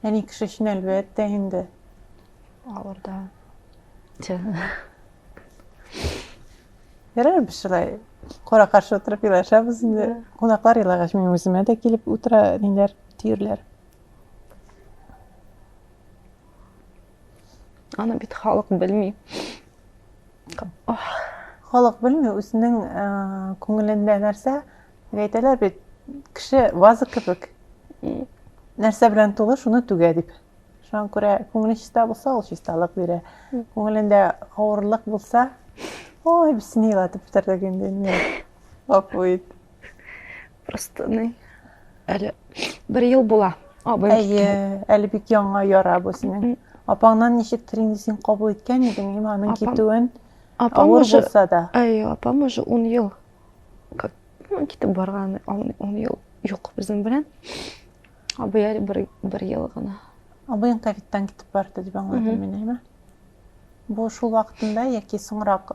Әни кеше өчен әлбәттә инде. Авыр да. Ярар без шулай кара каршы утырып елашабыз инде. Кунаклар елагач мин үземә дә килеп утыра ниләр, тиерләр. Аны бит халык белми. Халык белми, үзенең э, күңелендә нәрсә, әйтәләр бит, кеше ваза кебек. Нәрсә белән тулы, шуны түгә дип. Шуңа күрә күңеле чиста булса, ул чисталык бирә. Күңелендә авырлык булса, ой, без сине елатып бетердек инде. Гафу ит. Просто ни, әле бер ел була. Абым Әйе, әле бик яңа яра бу синең. Апаңнан ничек тренинг син кабул иткән идең, им аның китүен? Апам уже булса да. Әйе, апам уже 10 ел. Как ну, китеп барган 10 ел юк безнең белән. Абый әле бер, бер ел гына. Абыең ковидтан китеп барды дип аңладым мин, әйме? Бу шул вакытында яки соңрак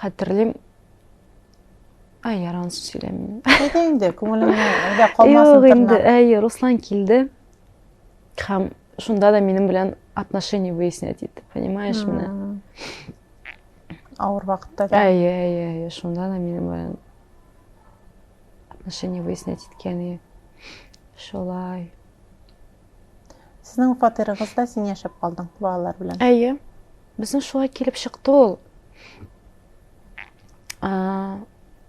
Хәтерлим, Ай, яран сүз сөйләмим. Әйдә инде, күңелеңне әйдә калмасын Юк инде, әй, Руслан килде. Хәм шунда да минем белән отношения выяснять итте, понимаешь меня? Ауыр вакытта. Әй, әй, әй, шунда да минем белән отношения выяснять иткән и шулай. Сезнең фатирыгызда син яшәп калдың балалар белән. Әйе. Безнең шулай килеп чыкты ул.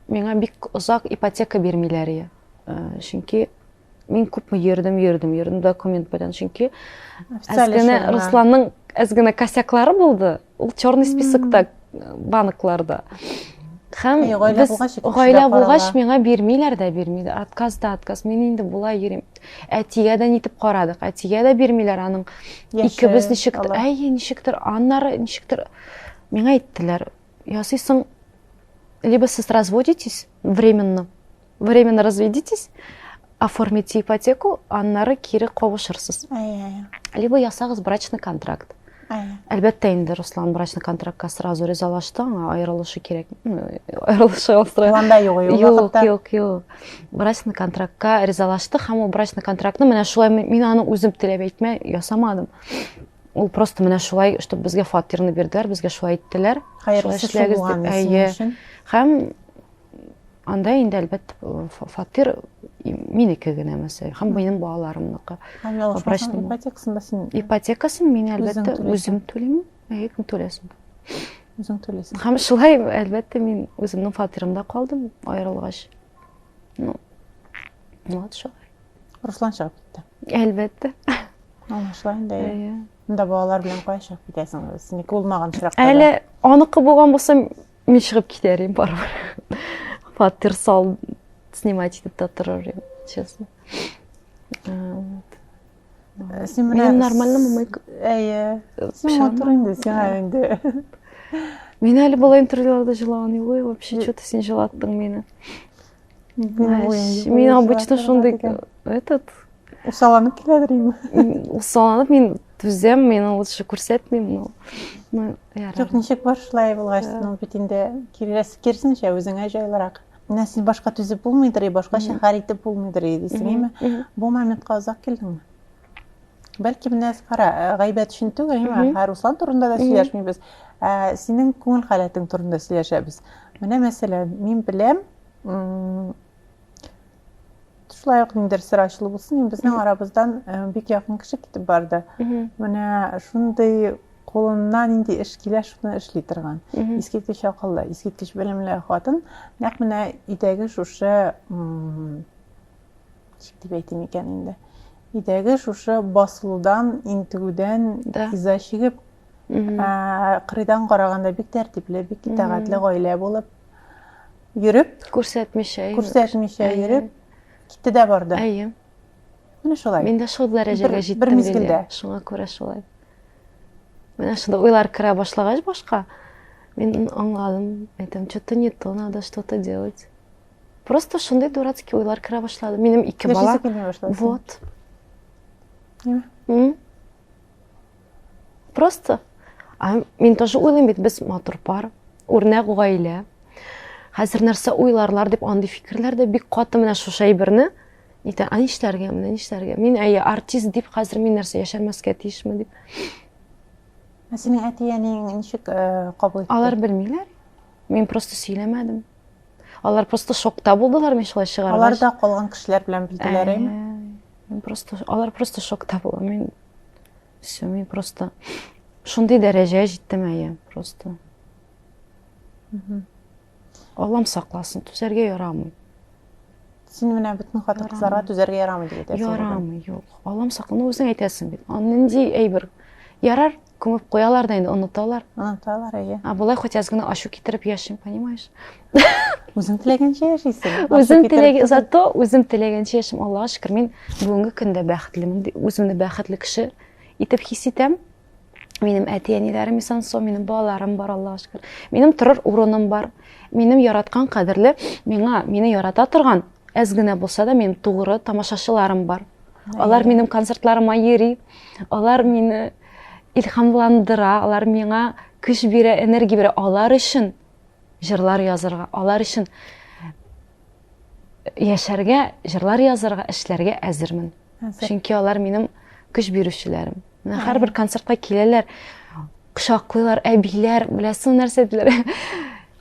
Миңа бик озак ипотека бирмиләр иде. Чөнки мин күпме йөрдем, йөрдем, йөрдем документ белән. Чөнки әз генә Русланның әз генә косяклары булды. ул черный списокта банкларда һәм гаилә булгач миңа бирмиләр дә бирмиләр отказ да отказ мин инде болай йөрим әтигә дә нитеп карадык әтигә дә бирмиләр аның икебез ничек әйе ничектер аннары ничектер миңа әйттеләр ясыйсың либо сез разводитесь временно Временно разведитесь, оформите ипотеку, аннары кире кавышырсыз. Либо ясагыз брачный контракт. Әлбәттә инде Руслан брачный контрактка сразу ризалашты, аңа аерылышы кирәк. Аерылышы алстрай. Планда юк, юк. Юк, юк, юк. Брачный контрактка ризалашты, һәм ул брачный контрактны менә шулай мин аны үзем теләп әйтмә ясамадым. Ул просто менә шулай, чтобы безгә фатирны бирделәр, безгә шулай әйттеләр. Хәерле эшләгез дип. Әйе. Һәм Анда инде әлбәттә фатир минеке генә мәсәл һәм минем балаларымныкы. Ипотекасын да син ипотекасын мин әлбәттә үзем түлим. Әйе, кем түләсен? Үзең түләсең. Һәм шулай әлбәттә мин үземнең фатирымда калдым аерылгач. Ну. Вот шулай. Руслан чыгып китте. Әлбәттә. Аңлашыла инде. Әйе. Монда балалар белән кая чыгып китәсең? Синеке булмаган очракта. Әле аныкы булган булса, Мин чыгып китәр идем барыбер. Фатир сал, снимать итеп тә торыр идем, честно. Син менә нормально мумык. Әйе. Син матур инде, сиңа инде. Мин әле бала интервьюларда җылаган юк, вообще что-то син җылаттың мине. мен обычно шундай этот усаланып келәдер инде усаланып мен түзәм мен лучше күрсәтмим ну жоқ ничек бар шулай булгач ул бит инде керсенчә үзеңә җайлырак менә син башка түзеп булмыйдыр и башкача хәл итеп булмыйдыр и дисең әйме бу моментка озак килдеңме бәлки менә кара гайбәт өчен түгел ә руслан турында да сөйләшмибез ә синең күңел халәтең турында сөйләшәбез менә мәсәлән мин беләм шулай ук ниндер сер ачылу булсын безнең арабыздан бик якын кеше китеп барды менә шундый кулына нинди эш килә шуны эшли торган искиткеч акыллы искиткеч белемле хатын нәкъ менә өйдәге шушы Ничек дип әйтим икән инде? Өйдәге шушы басылудан, интегүдән да. иза чигеп, кырыйдан караганда бик тәртипле, бик итәгатьле гаилә булып йөреп, күрсәтмичә, күрсәтмичә йөреп, китте дә барды. Әйе. Менә шулай. Мин дә шул дәрәҗәгә җиттем. Бер мизгелдә. Шуңа күрә шулай. Менә шунда уйлар керә башлагач башка, мин аңладым, әйтәм, что-то не то, надо что-то делать. Просто шундый дурацкий уйлар керә башлады. Минем ике бала. Яшисе килми башлады. Вот. М? Просто. А мин тоже уйлыйм бит, без матур пар, үрнәк гаилә. Хәзер нәрсә уйларлар дип андый фикерләр дә бик каты менә шушы әйберне әйтә, а нишләргә, менә нишләргә? Мин әйе артист дип хәзер мин нәрсә яшәмәскә тиешме дип. Ә синең әти-әниең ничек э, кабул итте? Алар белмиләр. Мин просто сөйләмәдем. Алар просто шокта булдылар мин шулай чыгаргач. Алар да калган кешеләр белән билгеләр әйме? Просто алар просто шокта булды. Мин все, мин просто шундый дәрәҗә җиттем әйе, просто. Аллам сакласын, түзәргә ярамый. Син менә бөтен хатын кызларга түзәргә ярамый дип әйтәсең. Ярамый, юк. Аллам сакласын, үзең әйтәсең бит. Андый әйбер ярар, Күмеп куялар да инде, оныталар. Оныталар, әйе. Ә болай хоть аз гына ачу китереп яшим, понимаешь? Үзең теләгәнчә яшисең. Үзем теләгән, зато үзем теләгәнчә яшим. Аллага шөкер, мин бүгенге көндә бәхетлемен. Үземне бәхетле кеше итеп хис итәм. Минем әти-әниләрем исән сау, минем балаларым бар, Аллага шөкер. Минем торыр урыным бар. Минем яраткан кадерле, миңа, мине ярата торган әз генә булса да минем тугры тамашачыларым бар алар минем концертларыма йөри алар мине илһамландыра алар миңа көч бирә энергия бирә алар өчен җырлар язырга алар өчен яшәргә җырлар язырга эшләргә әзермен чөнки алар минем көч бирүчеләрем менә һәрбер концертка киләләр кочаклыйлар әбиләр беләсең нәрсә диләр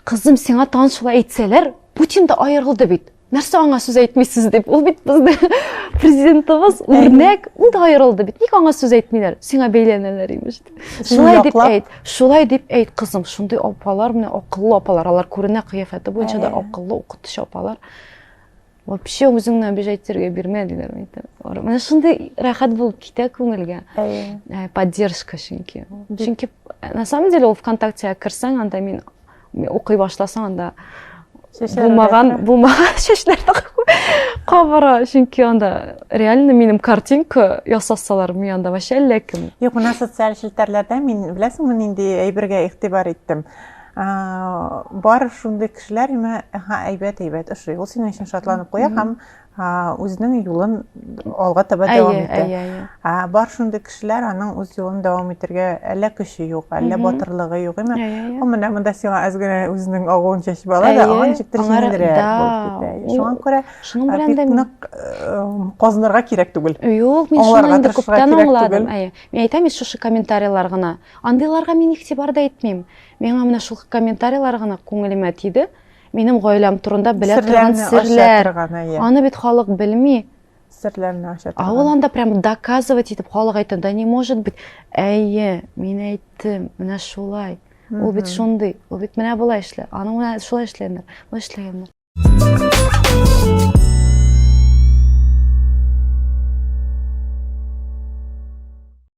Кызым, сиңа тагын шулай әйтсәләр, Путин да аерылды бит. Нәрсә аңа сүз әйтмисез дип. Ул бит безнең президентыбыз үрнәк, ул да аерылды бит. Ник аңа сүз әйтмиләр? Сиңа бәйләнәләр имеш. Шулай дип әйт. Шулай дип әйт, кызым. Шундый апалар менә акыллы апалар. Алар күренә кыяфәте буенча да акыллы укытучы апалар. вообще үзеңне обижать итәргә бирмәделәр менә шундый рәхәт булып китә күңелгә э, поддержка чөнки чөнки э, на самом деле ул вконтактега керсәң анда мин укый башласаң анда булмаган булмаган чәчләрне кабара чөнки анда реально минем картинка ясасалар мин анда вообще әллә кем юк менә социаль челтәрләрдә мин беләсеңме нинди әйбергә игътибар иттем бар шундый кешеләр имә ха әйбәт әйбәт ошый ул синең өчен шатланып куя һәм үзенең юлын алга таба дәвам итә бар шундый кешеләр аның үз юлын дәвам итәргә әллә көче юк әллә батырлыгы юк имә ул менә монда сиңа әз генә үзенең агуын чәчеп ала да аңа ничектер җиңелрәк булып китә шуңа күрә шуның белән дә нык казынырга кирәк түгел юк мин шуны инде күптән аңладым әйе мин әйтәм шушы комментарийлар гына андыйларга мин игътибар да итмим Миңа менә шул комментарийлар гына күңелемә тиде. Минем гаиләм турында белә торган серләр. Аны бит халык белми. Серләрне ача торган. А ул анда прям доказывать итеп халык әйтә, да не может быть. Әйе, мин әйттем, менә шулай. Ул бит шундый, ул бит менә болай эшлә. Аны менә шулай эшләгәннәр, болай эшләгәннәр.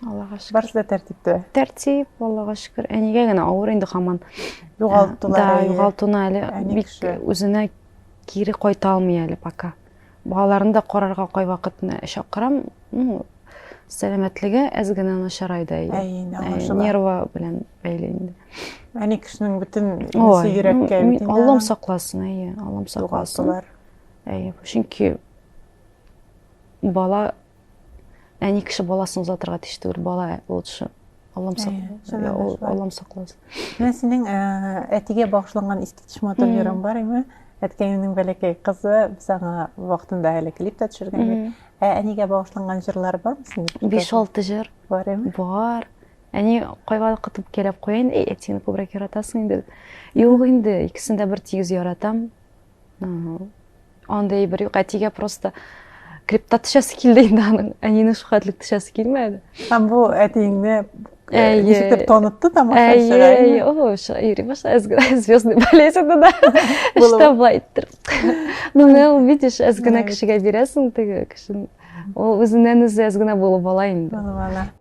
Аллага шөкер. Барысы да тәртиптә. Тәртип, Аллага шөкер. Әнигә генә авыр инде хаман. Югалтулар. Да, югалтуна әле бик үзенә кире кайта алмый әле пока. Балаларны да карарга кай вакытны чакырам. Ну, сәламәтлеге әз генә начарайды. Әйе, нерва белән бәйле инде. Әни кешенең бөтен үзе йөрәккә. Аллам сакласын, әйе, Аллам сакласын. Югалтулар. Әйе, чөнки бала әни кеше баласын озатырга тиеш түгел бала ул шо аллам аллам сакласын менә синең әтигә багышланган искиткеч матур җырың бар име әткәемнең бәләкәй кызы без аңа вакытында әле клип та төшергән идек ә әнигә багышланган җырлар бармы синең биш алты җыр бар име бар әни кайвакыт үпкәләп куя инде әтиңне күбрәк яратасың инде юк инде икесен дә бер тигез яратам Андый әйбер юк, әтигә просто клипта төшәсе килде инде аның, әнине шул хәтлек төшәсе килмәде. Һәм бу әтиеңне э, ничектер танытты тамашачыга. Әйе, о, йөри башлады, звездный болезнь да. Что былай иттер. Ну, не увидишь, әз генә кешегә бирәсең теге кешене. Ул үзеннән үзе әз генә булып ала инде.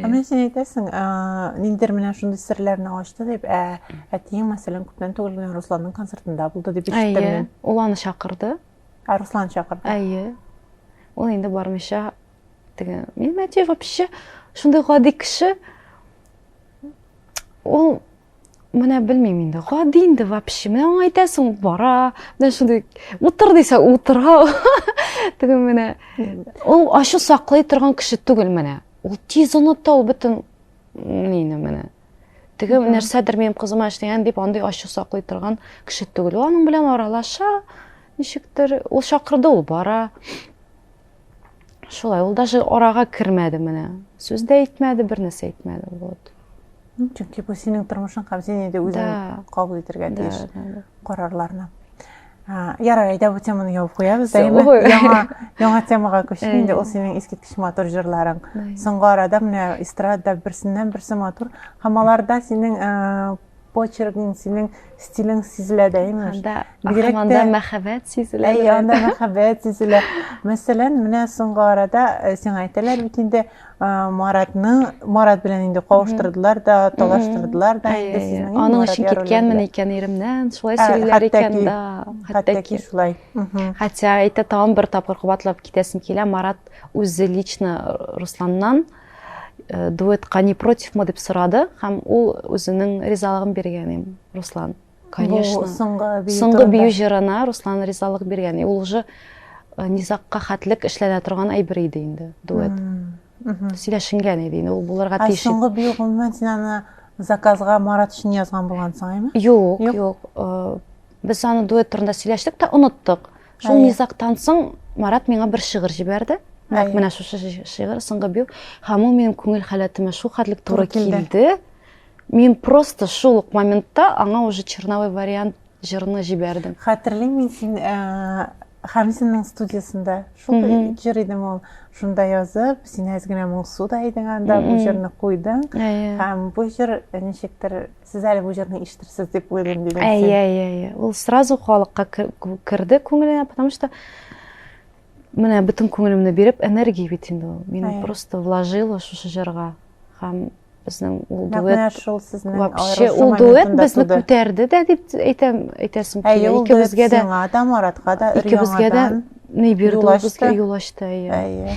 Менә син әйтәсең, ниндер менә шундый серләрне ачты дип, ә әтиең мәсәлән күптән түгел генә Русланның концертында булды дип ишеттем мин. Ул аны чакырды. Ә Руслан чакырды. Әйе. Ул инде бармыйча теге. Мин әти вообще шундый гади кеше. Ул Менә белмим инде. Гади инде вообще. Менә аңа әйтәсең, бара. Менә шундый утыр дисә, утыра. Теге менә ул ачу саклый торган кеше түгел менә. Ул тиз оныта ул бөтен нини менә. Теге нәрсәдер минем кызыма эшләгән дип андый ачу саклый торган кеше түгел. Ул аның белән аралаша. Ничектер ул чакырды, ул бара. Шулай, ул даже арага кермәде менә. Сүз дә әйтмәде, бер нәрсә әйтмәде. Вот. Ну, чөнки бу синең тормышың һәм син инде үзең кабул итәргә тиеш карарларны. Ярар, әйдә бу теманы ябып куябыз. Яңа яңа темага күчик инде. Ул синең искиткеч матур җырларың. Соңгы арада менә эстрада берсеннән берсе матур. Һәм аларда синең почеркың синең стилең сизелә дә имеш анда анда мәхәббәт сизелә әй анда мәхәббәт сизелә мәсәлән менә соңгы арада э, сиңа әйтәләр бит инде маратны марат белән инде кавыштырдылар да талаштырдылар да инде сезнең аның өчен киткәнмен икән иремнән шулай ә, сөйлиләр икән да хәтта шулай хотя әйтә тагын бер тапкыр кабатлап китәсем килә марат үзе лично русланнан э, дуэтка не против мы дип сорады һәм ул үзенең ризалыгын биргән им руслан конечно соңгы бию җырына руслан ризалык биргән ул уже э, низакка хәтлек эшләнә торган әйбер иде инде дуэт сөйләшенгән иде инде ул булырга тиеш ә соңгы бию гомумән син аны заказга марат өчен язган булгансың әйме юк юк э, без аны дуэт турында сөйләштек тә оныттык Шул низактан соң Марат миңа бер шигырь җибәрде. Нәкъ менә шушы шигырь соңгы бию. Һәм ул минем күңел халәтемә шул хәтлек туры килде. Мин просто шул ук моментта аңа уже черновой вариант җырны җибәрдем. Хәтерлим мин син э, Хамзинның студиясендә шул җыр идең ул. Шунда язып, син әз генә моңсу да идең анда, бу җырны куйдың. Һәм бу җыр ничектер сез әле бу җырны ишетерсез дип уйлыйм дидең син. Әйе, әйе, әйе. Ул сразу халыкка керде күңеленә, потому что менә бөтен күңелемне биреп, энергия бит инде ул. Мин просто вложила шушы җырга. Һәм безнең ул дуэт шул сезнең вообще ул дуэт безне күтәрде дә дип әйтәм, әйтәсем килә. Икебезгә дә, Тамаратка да, икебезгә дә ни бирде, безгә юл ачты. Әйе.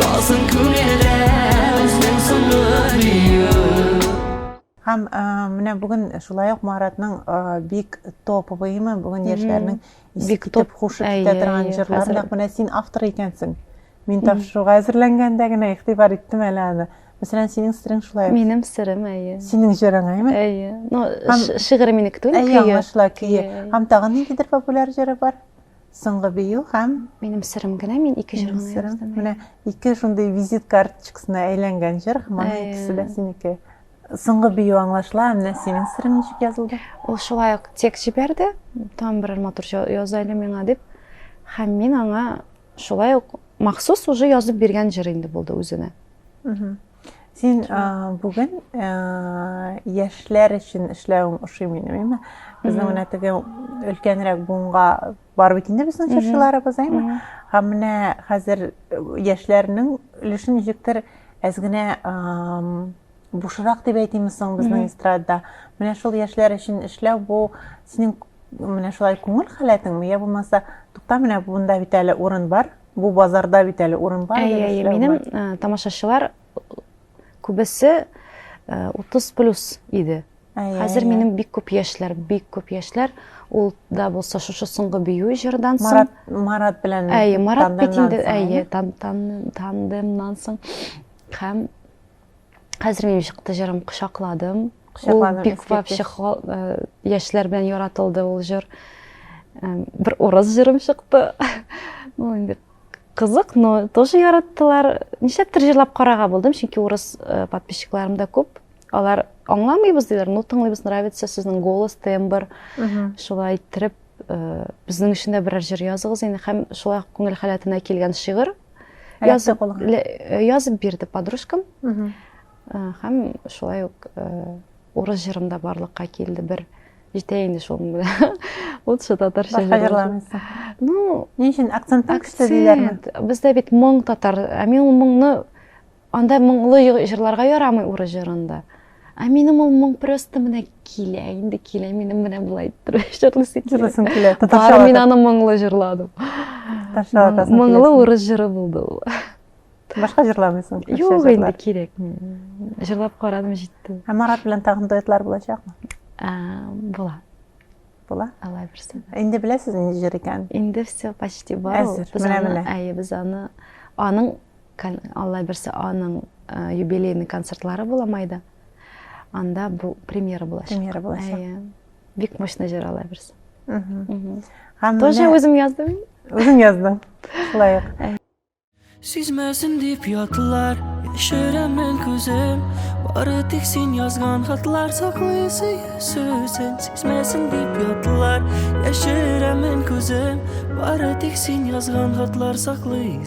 Калсын күңелдә үзең соңгы биюм. Һәм менә бүген шулай ук Маратның бик топовый име, бүген яшьләрнең бик топ кушып китә торган җырлары, нәкъ менә син автор икәнсең. Мин тапшыруга әзерләнгәндә генә игътибар иттем әле аны. Мәсәлән, синең сырың шулай. Минем сырым, әйе. Синең җырың, әйме? Әйе. Ну, шигырь минеке түгел, көе. Әйе, аңлашыла, көе. Һәм тагын ниндидер популяр җыры бар? Соңгы бию һәм Минем сырым генә, мин ике җыр гына яздым. Менә ике шундый визит карточкасына әйләнгән җыр, моны икесе дә синеке. Соңгы бию аңлашыла, менә синең сырың ничек язылды? Ул шулай ук тек җибәрде, там берәр матур яз әле миңа дип. Һәм мин аңа шулай ук махсус уже язып биргән җыр инде булды үзенә. Син бүген яшьләр өчен эшләвең ошый мені, әйме? Безнең менә теге өлкәнрәк буынга барып бит инде безнең чыршыларыбыз, әйме? Һәм менә хәзер яшьләрнең өлешен ничектер әз генә бушырак дип әйтимме соң безнең эстрадада. Менә шул яшьләр өчен эшләү бу синең менә шулай күңел халәтеңме, я булмаса, тукта менә монда бит әле урын бар, Бу базарда бит әле урын бар. Әйе, әйе, минем тамашачылар күбесе 30 плюс иде. Хәзер минем бик күп яшьләр, бик күп яшьләр. Ул да булса шушы соңгы бию җырдан соң. Марат, Марат белән. Әйе, Марат бит инде, әйе, тандемнан соң. Һәм хәзер минем чыкты җырым кочакладым ул бик вообще яшьләр белән яратылды ул җыр бер урыс җырым чыкты ну инде кызык но тоже яраттылар нишләптер җырлап карарга булдым чөнки урыс э, подписчикларым да күп алар аңламыйбыз диләр ну тыңлыйбыз нравится сезнең голос тембр шулай иттереп Безнең өчен дә берәр җыр языгыз инде һәм шулай күңел халәтенә килгән шигырь язып язып бирде подружкам. Һәм шулай ук урыс җырым да барлыкка килде бер. Җитә инде шул белән. Лучше татарча җырлармын. Ну, ни өчен акцент күчтеләр? Бездә бит моң татар, ә мин ул моңны Анда моңлы җырларга ярамый уры җырында. Ә минем ул моң просто менә килә, инде килә, минем менә болай җырлыйсы килә. Җырлыйсым килә. Татарча. Мин аны моңлы җырладым. Татарча атасың. Моңлы урыс җыры булды ул. Башка җырламыйсың? Юк, инде кирәк. Җырлап карадым, җитте. Ә Марат белән тагын дуэтлар булачакмы? Була. Була? Алла бирсен. Инде беләсез нинди җыр икән? Инде все почти бар. Әзер. Менә менә. Әйе, без аны аның Алла берсе аның юбилейный концертлары була майда. Анда бу премьера булачак. Премьера булачак. Бик мощный җыр Алла берсе. Тоже үзем яздым. Үзем яздым. Шулай ук. Сизмәсен дип ятлар, яшерәмен күзем Бары тик син язган хатлар саклый сөзен Сизмәсен дип ятлар, яшерәмен күзем Бары тик син язган хатлар саклый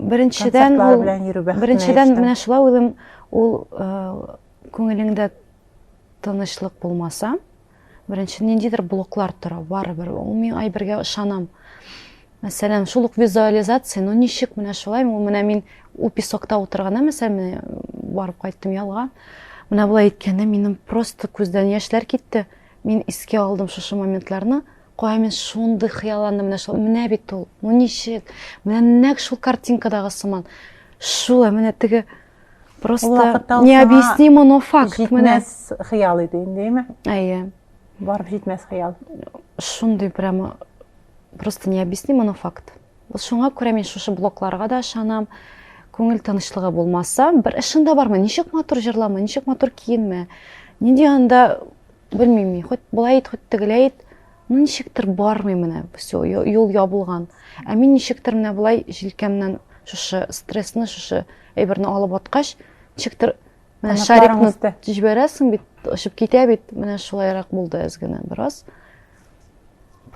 Беренчедән, ул, беренчедән менә шулай уйлым, ул э, күңелеңдә тынычлык булмаса, беренче ниндидер блоклар тора, барыбер. Ул мин айбергә ышанам. Мәсәлән, шул ук визуализация, ну ничек менә шулай, ул менә мин ул песокта утырганда, мәсәлән, барып кайттым ялга. Менә болай әйткәндә минем просто күздән яшьләр китте. Мин искә алдым шушы моментларны. Кая мин шундый хыялландым, менә шул, менә бит ул, ну ничек, менә нәк шул картинкадагы сыман. Шул, ә менә теге просто необъяснимо, но факт. Җитмәс хыял иде инде, әйме? Әйе. Барып җитмәс хыял. Шундый прямо, просто необъяснимо, но факт. Вот шуңа күрә мин шушы блокларга да ышанам. Күңел тынычлыгы булмаса, бер эшен дә бармы, ничек матур җырлама, ничек матур киенмә. Нинди анда Белмим мин, хоть болай ит, хоть тегеләй ит, ну ничектер бармый менә, все, юл ябылган. Ә мин ничектер менә болай җилкәмнән шушы стрессны, шушы әйберне алып аткач, ничектер менә шарикны җибәрәсең бит, очып китә бит, менә шулайрак булды әз генә бераз.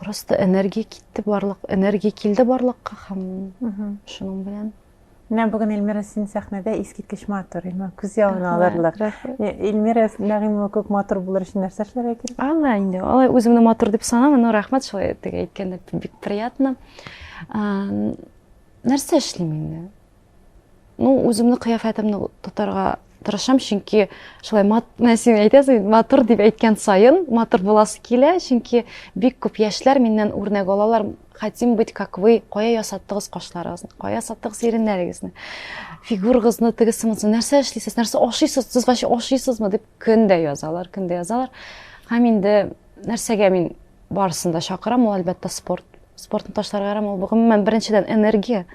Просто энергия китте барлык, энергия килде барлыкка һәм шуның белән. Менә бүген Эльмира син сәхнәдә искиткеч матур, иман күз явын алырлык. Эльмира Нәгыймова күк матур булыр өчен нәрсә эшләргә кирәк? Алла инде, алай үземне матур дип санамын, но рәхмәт шулай теге әйткәндә бик приятно. Нәрсә эшлим инде? Ну, үземне кыяфәтемне тотарга Тырышам, чөнки шулай мат, менә син әйтәсең, матур дип әйткән саен матур буласы килә, чөнки бик күп яшьләр миннән үрнәк алалар. Хотим быть как вы, кая ясаттыгыз кашларыгызны, кая ясаттыгыз иреннәрегезне, фигурыгызны тегесе монысы, нәрсә эшлисез, нәрсә ашыйсыз, сез вообще ашыйсызмы дип көн дә язалар, көн дә язалар. Һәм инде нәрсәгә мин барысын да чакырам, ул әлбәттә спорт. Спортны ташларга ярамый, ул гомумән беренчедән энергия,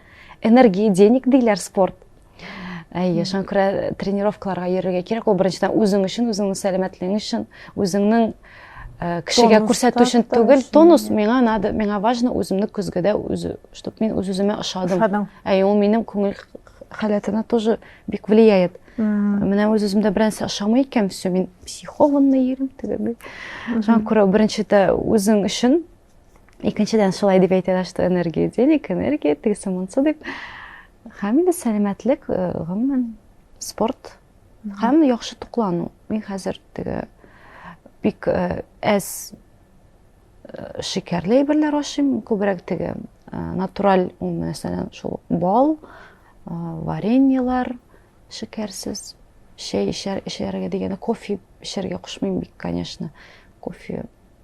энергия денег диләр спорт. әйе шуңа күрә тренировкаларга йөрергә кирәк ул беренчедән үзең өчен үзеңнең сәламәтлегең өчен үзеңнең э, кешегә күрсәтү өчен түгел тонус миңа надо миңа важно үземне көзгедә үз чтобы мин үз үземә ошадым әйе ул минем күңел халәтенә тоже бик влияет менә үз үземдә берәрсе ошамый икән все мин психованный йөрим тегенди шуңа күрә беренчедә үзең өчен икенчедән шулай дип әйтәләр что энергия денег энергия тегесе монсы дип Һәм инде сәламәтлек, э, гомумән, спорт һәм яхшы туклану. Мин хәзер теге бик э, әз э, шикәрле әйберләр ашыйм, күбрәк теге натураль, мәсәлән, шул бал, вареньелар, шикәрсез, чәй эчәргә дигәндә кофе эчәргә кушмыйм бик, конечно. Кофе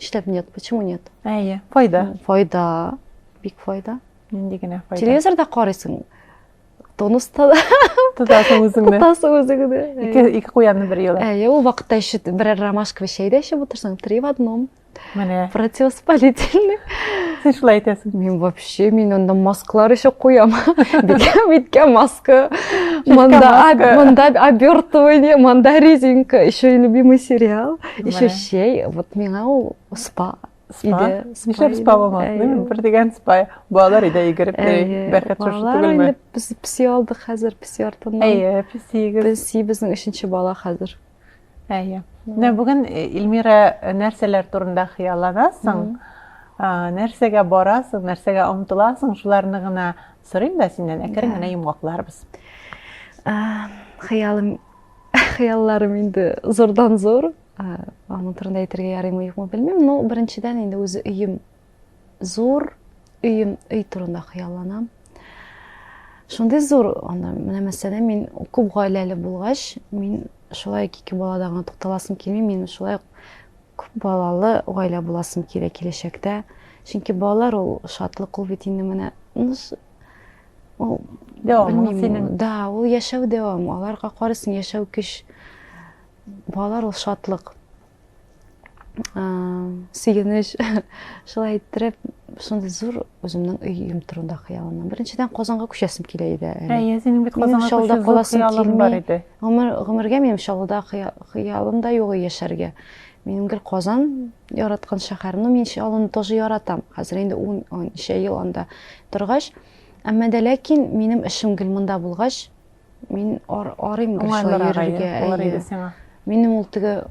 Нишләп нет? Почему нет? Әйе, файда. Файда. Бик файда. Нинди генә файда. Телевизорда карыйсың. Тонуста да. Тотасың үзеңне. Тотасың үзеңне. Ике, ике куянны бер елда. Әйе, ул вакытта еще берәр ромашковый чәй дә эчеп утырсаң, три в одном. Менә. Противоспалительный. Син шулай әйтәсең. Мин вообще, мин анда масклар еще куям. Бикә, биткә маска. Монда, монда обертывание, монда резинка. Еще и любимый сериал. Ишүчей, вот миңа ул спа спа нишләп спа булмады бер дигән спа балалар өйдә йөгереп йөри бәрхәт шушы түгелме инде без песи алдык хәзер песи артыннан әйе песиегез песи безнең өченче бала хәзер әйе менә бүген э, Ильмира э, нәрсәләр турында хыялланасың э, нәрсәгә барасың нәрсәгә омтыласың шуларны гына сорыйм да синнән әкрен генә йомгакларбыз хыялым хыялларым инде зурдан зур аның турында әйтергә ярыймы юкмы белмим но беренчедән инде үзе өем зур өем өй турында хыялланам шундый зур анда менә мәсәлән мин күп гаиләле булгач мин шулай ике балада гына тукталасым килми мин шулай күп балалы гаилә буласым килә киләчәктә чөнки балалар ул шатлык ул бит инде менә ул дәвамы синең да ул яшәү дәвам аларга карыйсың яшәү көч балалар ул шатлык сөенеч шулай иттереп шундый зур үземнең өем турында хыялланам беренчедән казанга күчәсем килә иде әйе синең бит казанга шаулда каласың килми гомер гомергә минем шаулда хыялым да юк яшәргә минем гел казан Яраткан шәһәрне мин чалын тоже яратам. Хәзер инде ун ничә ел анда торгач, әмма дә ләкин минем эшем гел монда булгач, мин ар, арыйм гел шулай йөрергә. Минем ул теге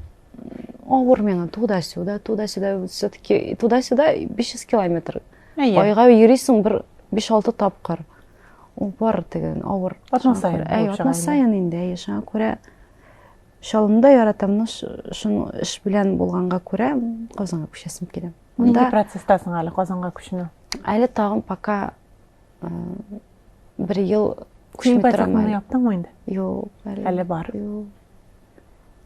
авыр миңа туда-сюда, туда-сюда, все-таки туда-сюда 500 километр. Айга йөрисең бер 5-6 тапкыр. Ул бар теге авыр. Атна сайын. Әй, атна сайын инде, әй, шуңа күрә Чалымда яратамны шун эш белән булганга күрә Казанга күчәсем килә. Нинди процесстасың әле Казанга күчүне? Әле тагын пока э, бер ел күчми торам. Син яптыңмы инде? Юк, әле. Әле бар. Юк.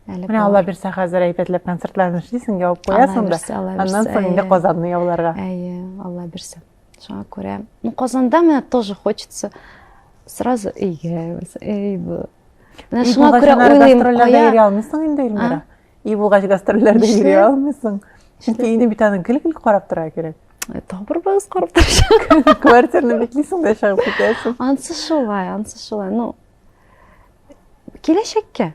Әле Менә алла бирсә хәзер әйбәтләп концертларны эшлисең, ябып куясың да. Аннан соң инде Казанны яуларга. Әйе, алла бирсә. Шуңа күрә, ну, Казанда менә тоже хочется сразу өйгә, өй бу. Менә шуңа күрә уйлыйм, кая. Йөри алмыйсың инде, Эльмира. Өй булгач гастрольләрдә йөри алмыйсың. Чөнки өйне бит аның гел-гел карап тора кирәк. Э, Табыр быз карап торачак. Квартираны биклисең дә чыгып китәсең. Ансы шулай, ансы шулай. Ну, киләчәккә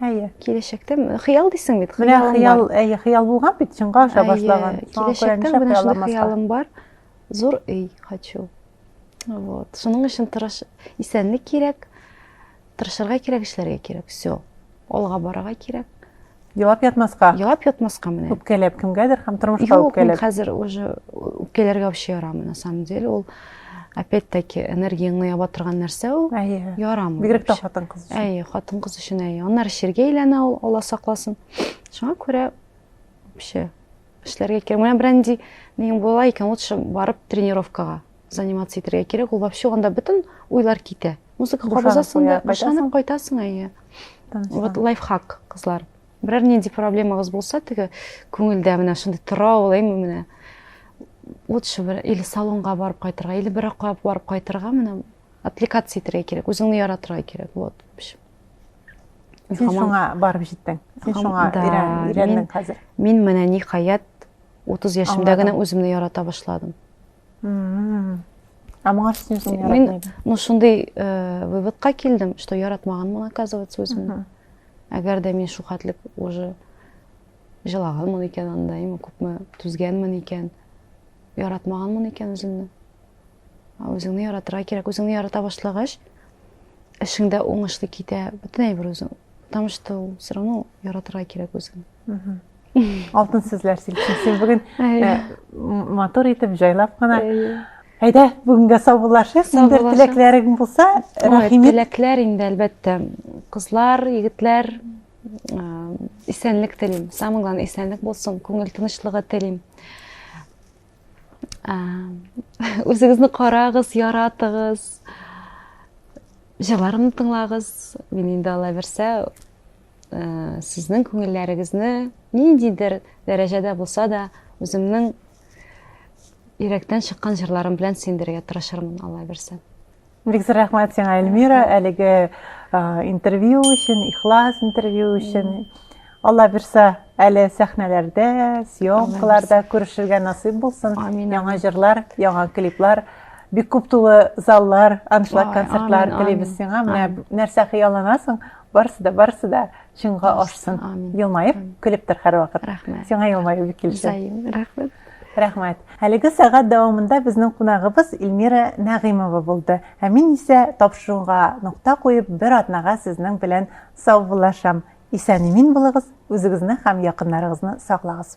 әйе киләчәктә хыял дисең бит менә хыял әйе хыял булган бит чынга аша башлаган киләчәктә менә шундый хыялым бар зур өй хочу вот шуның өчен тырыш исәнлек кирәк тырышырга кирәк эшләргә кирәк все алга барырга кирәк Елап ятмаска. Елап ятмаска менә. Үпкәләп кемгәдер һәм тормышка үпкәләп. Юк, хәзер уже үпкәләргә вообще ярамый на самом деле. Ул опять-таки энергияңне яба торган нәрсә ул. Әйе. Ярамый. Бигрәк тә хатын-кыз өчен. Әйе, хатын-кыз өчен әйе. Аннары ширгә әйләнә ул, Алла сакласын. Шуңа күрә вообще эшләргә кирәк. Менә бренди нинең була икән, лучше барып тренировкага. заниматься итәргә кирәк ул вообще анда бөтен уйлар китә музыка кабызасың да бушанып кайтасың әйе вот лайфхак кызлар берәр нинди проблемагыз булса теге күңелдә менә шундый тора ул әйме менә лучше бер или салонга барып кайтырга или бер якка барып кайтырга менә отвлекаться итәргә кирәк үзеңне яратырга кирәк вот сен шуңа барып жеттең сен шуңа өйрәндің хәзер мин менә ниһаять отыз яшемдә генә үземне ярата башладым а моңа шуның өчен яратмыйм ну шундый э, выводка килдем что яратмаганмын оказывается үземне әгәр дә мин шухатлек уже жылаганмын икән анда имя күпме түзгәнмен икән яратмаганмын икән үземне үзеңне яратырга кирәк үзеңне ярата башлагач эшең дә уңышлы китә бөтен әйбер үзең потому что все равно яратырга кирәк үзеңне Алтын сүзләр силкин. Син бүген э, матур итеп җайлап кына. Әйдә, бүгенгә саубуллашыйк. Инде теләкләрең булса, рәхимет. Теләкләр инде әлбәттә. Кызлар, егетләр, э, исәнлек телим. Самое главное, исәнлек булсын, күңел тынычлыгы телим. Э, үзегезне карагыз, яратыгыз. Җырларымны тыңлагыз. Мин инде алла берсә Сезнең күңелләрегезне ниндидер дәрәҗәдә булса да үземнең йөрәктән чыккан җырларым белән сөендерергә тырышырмын, Алла бирсә. Бик зур рәхмәт сиңа, Эльмира, әлеге интервью өчен, ихлас интервью өчен. Алла бирсә, әле сәхнәләрдә, съемкаларда күрешергә насыйп булсын. Амин. Яңа җырлар, яңа клиплар, бик күп тулы заллар, аншлаг концертлар телибез сиңа. Менә нәрсә хыялланасың, Барысы да, барысы да чынга ашсын. Елмаеп, көлеп тор һәрвакыт. Рәхмәт. Сиңа елмаю бик килешә. Зәйм, рәхмәт. Рәхмәт. Әлеге сәгать дәвамында безнең кунагыбыз Эльмира Нәгыймова булды. Ә мин исә тапшыруга нокта куеп, бер атнага сезнең белән саубуллашам. Исән-имин булыгыз, үзегезне һәм якыннарыгызны саклагыз.